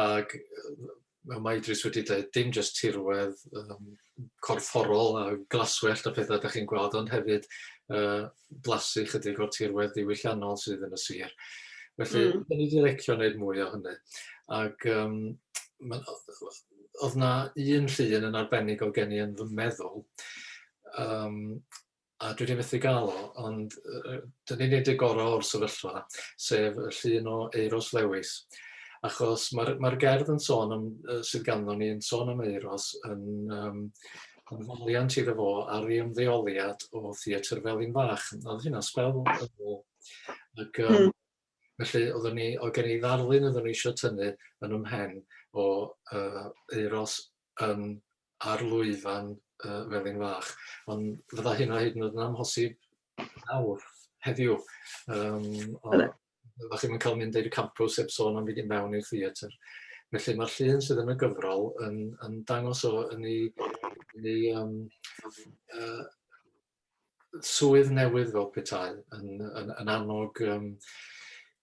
ag yy fel mae Idris wedi deud, dim jyst tirwedd yym corfforol a glaswellt a phethau da chi'n gweld, ond hefyd uh, blasu chydig o'r tirwedd diwylliannol sydd yn y sir. Felly, mm. da ni wedi lecio wneud mwy o hynny. Ac um, man, oedd na un llun yn arbennig o gen i yn fy meddwl, um, a dwi 'di methu ga'l o ond yy yy 'dan ni'n neud y gora' o'r sefyllfa sef y llun o Euros Lewis achos ma'r ma'r gerdd yn sôn am yy sydd ganddo ni yn sôn am Euros yn yym yn foddiant iddo fo ar ei ymddeoliad o Theatr Felin Fach. O'dd hynna sbel yn ôl ag yym... Hmm. ...felly oddwn ni o'dd gen i ddarlun oeddwn i isio tynnu yn 'y mhen o yy Euros yn ar lwyfan yy Felin Fach, ond fydda hynna hyd yn oed yn amhosib nawr, heddiw. Yym o- Bydde. fydda chi'm yn cael mynd i'r campws heb sôn am fynd i mewn i'r theatr. Felly mae'r llun sydd yn y gyfrol yn yn dangos o yn ei yn ei yym yy swydd newydd fel petai yn yn yn annog yym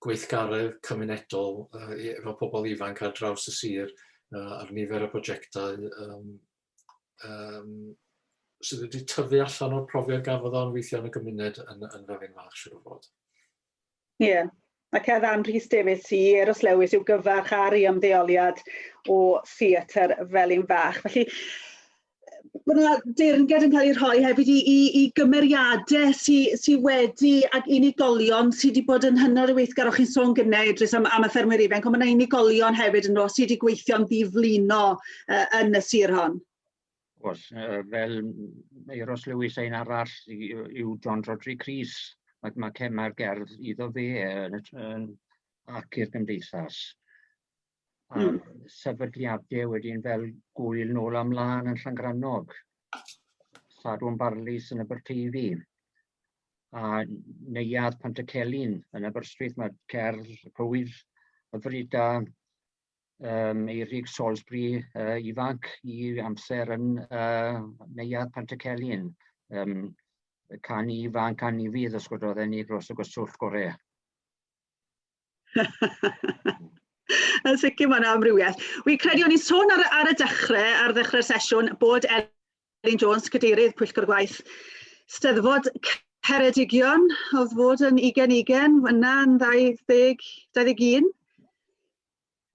gweithgaredd cymunedol yy i- efo pobl ifanc ar draws y sir yy a'r nifer o brojectau yym yym sydd wedi tyfu allan o'r profiad gafodd o yn weithio yn y gymuned yn yn Felin Fach siŵr o fod. Ie, ac a ddan Rhys Davies i Eros Lewis i'w gyfarch ar ei ymddeoliad o theatr Felin Fach. Felly, mae yna deyrnged yn cael ei rhoi hefyd i, i, i gymeriadau sydd sy wedi, ac unigolion sydd wedi bod yn hynod o weithgar, o'ch chi'n sôn gynnau Idris am, am y ffermwyr ifanc, ond mae yna unigolion hefyd yn rhoi sydd wedi gweithio'n ddiflino uh, yn y sir hon. Oes, yy fel m- Euros Lewis a un arall i- yy yw John Rhodri Cris, ma' ma' ce- ma'r gerdd iddo fe yn y tr- yn ac i'r gymdeithas a... Hmm. ...sefydliade wedyn fel Gŵyl Nôl a Mlân yn Llangrannog, Sadwrn Barlys yn Aberteifi a Neuadd Pantycelyn yn Aberystwyth, ma'r cerdd Cywydd Hyfryd da um, Eirig Salisbury uh, ifanc i amser yn uh, Neuadd Pantycelyn. Um, can i ifanc a ni fydd os gwrdd ni dros y gwaswllt gorau. Yn sicr mae'n amrywiaeth. Wi credu o'n i'n sôn ar, ar y dechrau, ar ddechrau'r sesiwn, bod Elin Jones, Cadeirydd Pwyllgor Gwaith Steddfod Ceredigion, oedd fod yn 2020, yna yn 20, 21,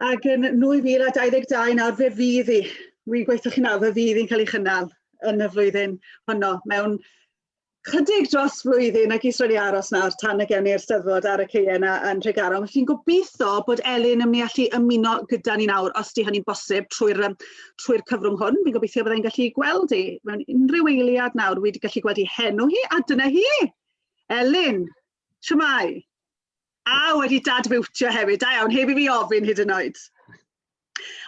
ac yn 2022 nawr fe fydd i, wi'n gweithio chi nawr, fe fydd i'n cael ei chynnal yn y flwyddyn honno mewn chydig dros flwyddyn ac is wedi aros nawr tan y gen i'r steddfod ar y ceie yna yn Nhregaron. Felly fi'n gobeithio bod Elin yn mynd i allu ymuno gyda ni nawr, os di hynny'n bosib, trwy'r trwy cyfrwng hwn. Fi'n gobeithio byddai'n gallu gweld i mewn unrhyw eiliad nawr. Fi wedi gallu gweld i henw hi, a dyna hi! Elin, siamai! A wedi dad fiwtio hefyd, da iawn, heb i fi ofyn hyd yn oed.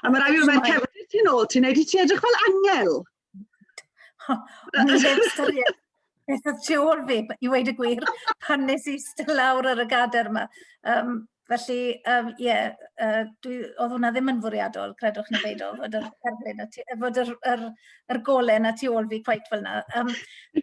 A mae rhaid i fi wneud cefnir ti'n ôl, ti'n neud i ti edrych fel angel. O, o'n i heb ystyried beth oedd tu ôl fi, i weud y gwir, pan nes i ista lawr ar y gader yma. Um, felly, um, yeah, uh, dwi, oedd hwnna ddim yn fwriadol, credwch neu beido, fod yr, erglyn, fod yr, yr, yr golen a tu ôl fi cwait fel yna. Um,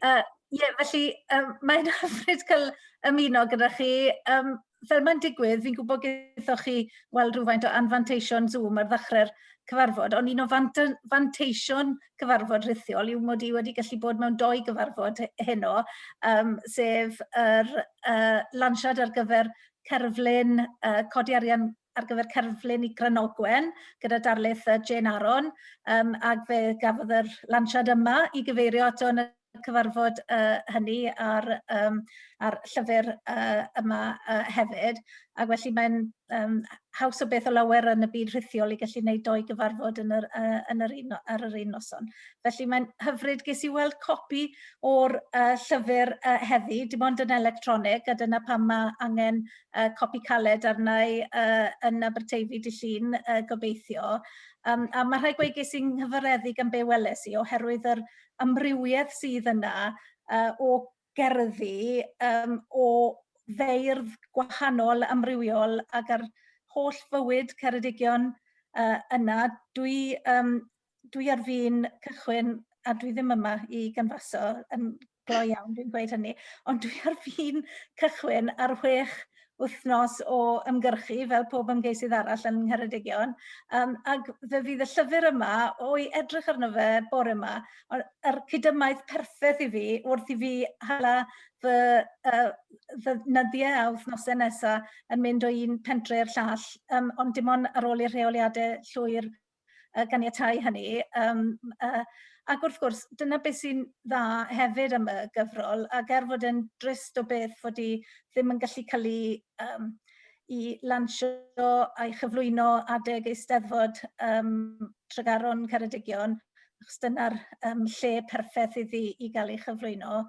uh, yeah, felly, um, mae'n hyfryd cael ymuno gyda chi. Um, fel mae'n digwydd, fi'n gwybod gydaethoch chi weld rhywfaint o anfanteision Zoom ar ddechrau'r cyfarfod, ond un o fanteision cyfarfod rhithiol yw mod i wedi gallu bod mewn doi gyfarfod heno, um, sef yr uh, lansiad ar gyfer cerflun uh, codi arian ar gyfer cerflun i Granogwen gyda darlith uh, Jane Aron um, ac fe gafodd yr lansiad yma i gyfeirio ato yn y cyfarfod uh, hynny ar, um, ar llyfr uh, yma uh, hefyd. Ac felly mae'n um, haws o beth o lawer yn y byd rhithiol i gallu gwneud doi gyfarfod yn yr, uh, yn yr un, ar yr un noson. Felly mae'n hyfryd, ges i weld copi o'r uh, llyfr uh, heddi, dim ond yn electronig, a dyna pam mae angen uh, copi caled arna i uh, yn Aberteifi dy llun, uh, gobeithio. Um, a mae rhai gweigu sy'n nghyfareddu gan be weles i oherwydd yr amrywiaeth sydd yna uh, o gerddi, um, o feirdd gwahanol, amrywiol, ac ar holl fywyd Ceredigion uh, yna. Dwi um, dwi ar fin cychwyn a dwi ddim yma i ganfaso yn gloi iawn dwi'n gweud hynny, ond dwi ar fin cychwyn ar chwech wythnos o ymgyrchu fel pob ymgeisydd arall yn Ngheredigion um, ac fe fydd y llyfr yma o'i edrych arno fe bore yma yr cydymaith perffaith i fi wrth i fi hala fy, uh, fy nyddiau a wythnosau nesaf yn mynd o un pentre i'r llall um, ond dim ond ar ôl i'r rheoliadau llwyr yy ganiatáu hynny yym yy ac wrth gwrs dyna beth sy'n dda hefyd am y gyfrol ac er fod e'n drist o beth fod hi ddim yn gallu cael ei yym i lansio a'i chyflwyno adeg Eisteddfod um, Tregaron Ceredigion achos dyna'r um, lle perffaith iddi i gael ei chyflwyno.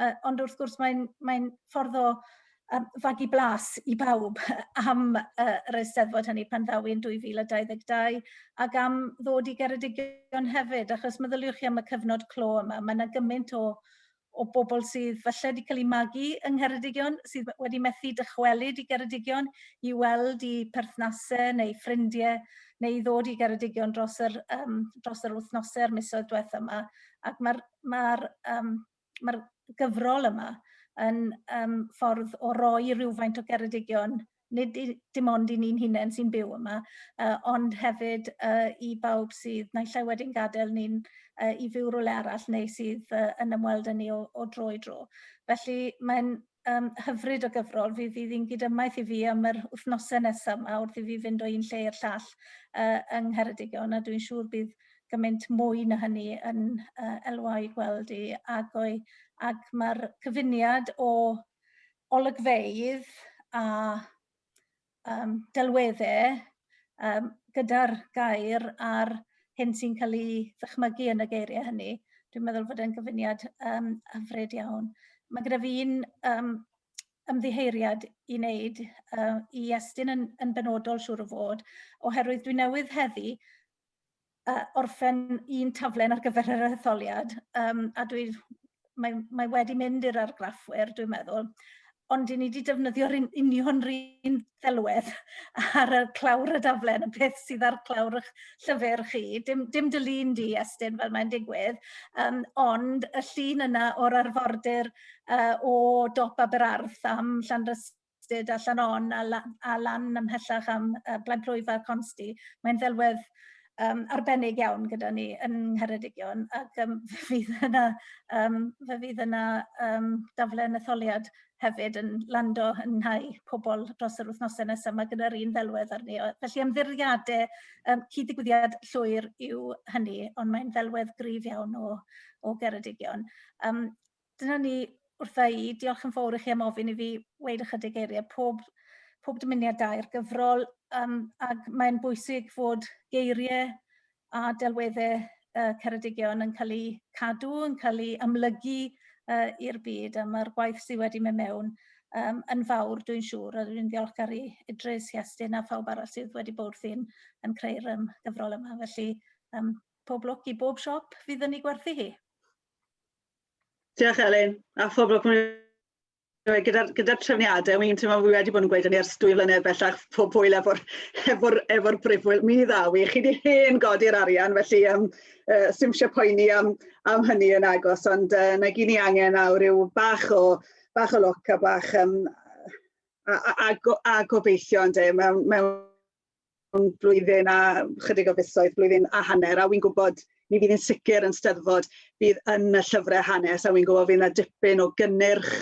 Uh, ond wrth gwrs mae'n mae ffordd o a fagu blas i bawb am yy yr Eisteddfod hynny pan ddaw e'n 2022 ac am ddod i Geredigion hefyd achos meddyliwch chi am y cyfnod clo yma, mae 'na gymaint o o bobl sydd falle wedi cael eu magu yng Ngheredigion, sydd wedi methu dychwelyd i Geredigion i weld i perthnasau neu ffrindiau neu i ddod i Geredigion dros yr, um, dros yr wythnosau a'r misoedd diwethaf yma. Ac mae'r, mae'r um, ma'r gyfrol yma yn yym ffordd o roi rhywfaint o geredigion, nid i- dim ond i ni'n hunen sy'n byw yma, yy ond hefyd yy i bawb sydd naill ai wedi'n gadel ni'n yy i fyw rywle arall neu sydd yy yn ymweld â ni o o dro i dro. Felly mae'n um, hyfryd o gyfrol. Fi fydd hi'n gydymmaeth i fi am yr wythnosau nesaf yma wrth i fi fynd o un lle i'r llall uh, yng Ngheredigion a dwi'n siŵr bydd gymaint mwy na hynny yn uh, elwau gweld i agoi ac mae'r cyfuniad o olygfeydd a um, delweddau um, gyda'r gair a'r hyn sy'n cael ei ddychmygu yn y geiriau hynny. Dwi'n meddwl fod e'n gyfuniad um, hyfryd iawn. Mae gyda fi un um, ymddiheiriad i wneud uh, i Estyn yn, yn benodol siŵr o fod, oherwydd dwi newydd heddi yy orffen un taflen ar gyfer yr etholiad yym a dwi mae mae wedi mynd i'r argraffwyr dwi'n meddwl ond 'yn ni 'di defnyddio'r un union 'r un ddelwedd ar y clawr y daflen y peth sydd ar clawr 'ych llyfyr chi dim dim dy Lun di Estyn fel mae'n digwydd yym ond y llun yna o'r arfordir yy o dop Aberarth am Llanrysyd Llwybr Ffestr a Llannon a lan ymhellach am Blaid Plwyf a Consti. Mae'n ddelwedd arbennig iawn gyda ni yn Ngheredigion ac um, fe fydd yna, um, fe fydd yna um, daflen etholiad hefyd yn lando yn nhau pobl dros yr wythnosau nesaf. Mae gyda'r un ddelwedd arni. Felly ymddiriadau um, cyd-digwyddiad llwyr yw hynny, ond mae'n ddelwedd gryf iawn o, o Geredigion. Um, dyna ni wrtha i. Diolch yn fawr i chi am ofyn i fi weud ychydig eiriau. Pob, pob dymuniad da i'r gyfrol, um, ac mae'n bwysig fod geiriau a delweddau uh, Ceredigion yn cael eu cadw, yn cael eu amlygu uh, i'r byd, a mae'r gwaith sydd wedi mynd mewn um, yn fawr, dwi'n siŵr, a dwi'n ddiolchgar i Idris, Iestyn a phawb arall sydd wedi bod wrthi'n yn creu'r um, gyfrol yma. Felly, um, pob lwc i bob siop fydd yn ei gwerthu hi. Diolch Elin, a phob lwc gyda'r gyda trefniadau, mi'n teimlo fi wedi bod yn gweud hynny ers dwy flynedd bellach, pob hwyl efo'r efo efo brifwyl, mi ddaw i, chi wedi hen godi'r arian, felly um, uh, sy'n eisiau poeni am, am hynny yn agos, ond uh, na gyn ni angen awr yw bach o, bach o loc a bach um, a, a, a, go, a gobeithio yn de, mewn, mewn blwyddyn a chydig o fisoedd, blwyddyn a hanner, a wy'n gwybod mi fydd yn sicr yn steddfod bydd yn y llyfrau hanes a wy'n gwybod fydd yna dipyn o gynnyrch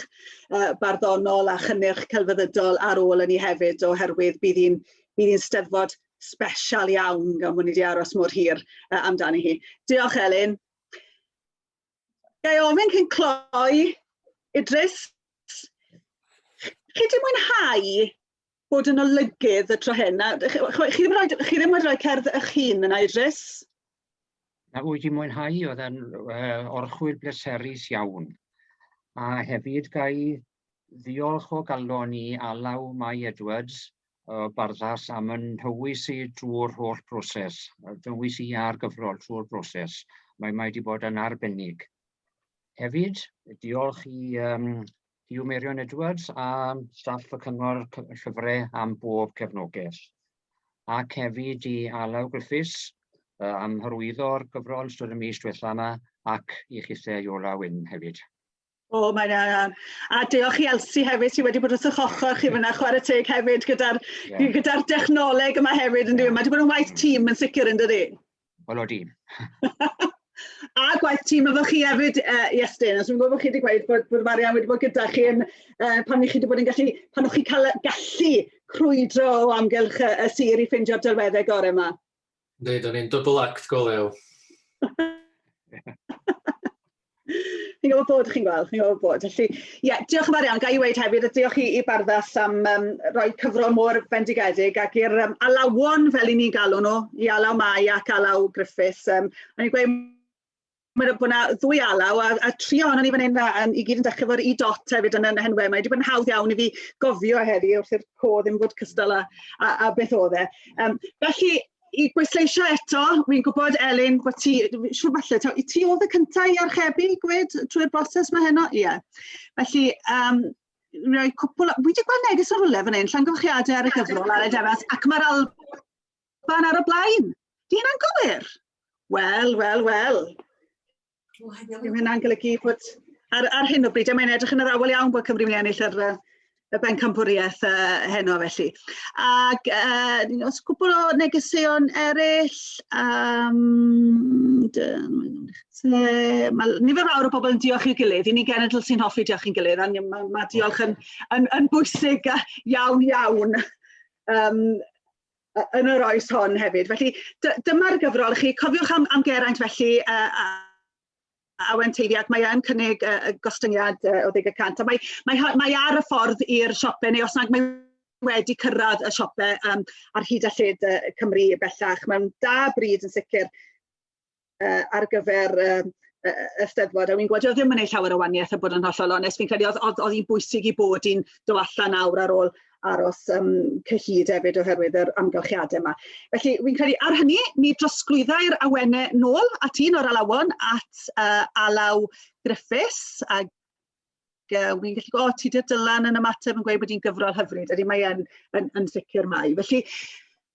uh, barddonol a chynnyrch celfyddydol ar ôl yn ni hefyd oherwydd bydd hi'n bydd hi'n steddfod special iawn gan bod ni wedi aros mor hir uh, amdani hi. Diolch Elin. Ga i ofyn cyn cloi, Idris, chi di mwynhau bod yn olygydd y tro hyn? Chi ddim, rhaid, chi ddim wedi rhoi cerdd eich hun yna, Idris? Na, wyt ti'n mwynhau, oedd e'n uh, orchwyl bleserus iawn. A hefyd gai ddiolch o galon i Alaw Mai Edwards uh, barddas am yn nhywys i drwy'r holl broses, dywys i ar gyfrol trwy'r broses. Mae mae wedi bod yn arbennig. Hefyd, diolch i um, Hugh Merion Edwards a staff y cyngor llyfrau am bob cefnogaeth. Ac hefyd i Alaw Griffiths uh, am hyrwyddo'r gyfrol yn ystod y mis diwethaf yma ac i chithau Iola Wyn hefyd. O, mae'n iawn. A diolch i Elsi hefyd sydd wedi bod wrth eich ochr chi fyna chwarae teg hefyd gyda'r yeah. gyda dechnoleg yma hefyd yn dweud. Mae wedi bod yn waith tîm yn sicr yn dydi? Wel o dîm. a gwaith tîm efo chi hefyd, uh, Iestyn, os dwi'n gwybod bod chi wedi gweud bod, bod Marian wedi bod gyda chi yn, uh, pan ni chi wedi bod yn gallu, pan o'ch chi cael gallu crwydro o amgylch y, y sir i ffeindio'r delweddau gorau yma. Yndi, dan ni'n double act go lew. Chi'n gwybod bod, chi'n gweld, chi'n gwybod bod. Felly, ie, yeah, diolch yn fawr iawn. Ga i weid hefyd, a diolch i, i Barddas am um, roi cyfro mor fendigedig ac i'r um, alawon, fel i ni'n galw nhw, i alaw Mai ac alaw Griffiths. Um, o'n i'n gweud Mae yna na ddwy alaw a, a tri ohono ni fan hyn a, a i gyd yn dechrau fo'r i dot hefyd yn yn henwe. Mae wedi bod yn hawdd iawn i fi gofio heddi wrth i'r co ddim bod cystal a, a, a beth oedd e. Um, felly, i bwysleisio eto, wy'n gwybod Elin bod ti, siwr falle, ta, ti oedd y cyntaf i archebu gwed trwy'r broses mae heno? Ie. Yeah. Felly, um, rhoi cwpl, wy wedi gweld neges ar rwle fan hyn, llongyfarchiadau ar y cyfrol ar y defas, ac mae'r al... Pan ar y blaen. Di hynna'n gywir? Wel, wel, wel. Dyw hynna'n golygu bod ar, ar hyn o bryd, a mae'n edrych yn yr awel iawn bod Cymru wedi ennill yr, y bencampwriaeth uh, heno felly. Ac uh, os cwbl o negeseuon eraill, um, mae nifer fawr o bobl yn diolch i'w gilydd, i ni genedl sy'n hoffi diolch i'n gilydd, a mae, mae diolch yn, yn, yn bwysig iawn iawn. Um, yn yr oes hon hefyd. Felly dyma'r gyfrol chi. Cofiwch am, am Geraint felly a, a, a wen teiddi ac mae e'n cynnig uh, y gostyngiad uh, o 10% a mae, mae, mae ar y ffordd i'r siope neu os nad mae wedi cyrraedd y siope um, ar hyd a lled uh, Cymru bellach. Mae'n da bryd yn sicr. uh, ar gyfer um, y Steddfod, a wi'n gwybod, ddim yn ei llawer o waniaeth a bod yn hollol onest, fi'n credu oedd hi'n bwysig i bod i'n do allan awr ar ôl aros um, cyhyd hefyd oherwydd yr amgylchiadau yma. Felly, fi'n credu ar hynny, mi drosglwyddai'r awennau nôl at un o'r alawon at uh, Alaw Griffiths, a uh, wi'n gallu gweld, o, ti dyr dylan yn ymateb yn gweud bod hi'n gyfrol hyfryd, ydy mae yn, yn, yn sicr mai. Felly,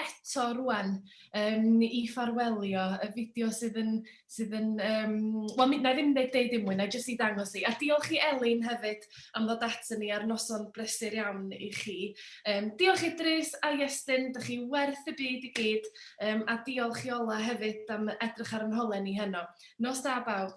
eto rŵan yym i ffarwelio y fideo sydd yn sydd yn yym wel mi- wna i ddim deud deud dim mwy, wna i jyst ei dangos hi. A diolch i Elin hefyd am ddod aton ni ar noson brysur iawn i chi. Yym diolch Idris a Iestyn, dych chi werth y byd i gyd, yym a diolch i Ola hefyd am edrych ar 'y nholen i heno. Nos da bawb.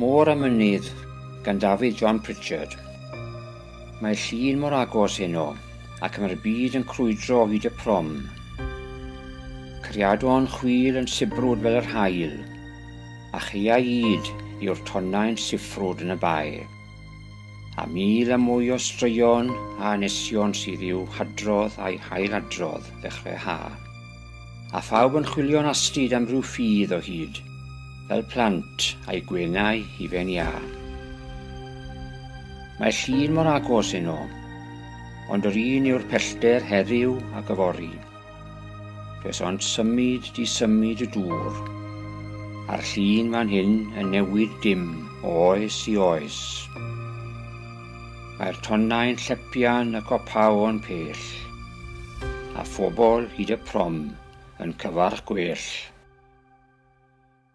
Môr a Mynydd gan Dafydd John Pritchard. Mae llun mor agos heno, ac mae'r byd yn crwydro o hyd y prom. Cariadon chwil yn sibrwd fel yr haul, a chaeaid yw'r tonnau'n siffrwd yn y bae, a mil a mwy o straeon a anesion sydd i'w hadrodd a'i hail-adrodd ddechrau ha, a phawb yn chwilio'n astud am ryw ffydd o hyd, fel plant a'u gwenau hufen iâ. Mae llun mor agos heno, ond yr un yw'r pellter heddiw ac yfory. Does ond symud di symud y dŵr, a'r llun fan hyn yn newid dim o oes i oes. Mae'r tonnau'n llepian y copaon pell, a phobl hyd y prom yn cyfarch gwell.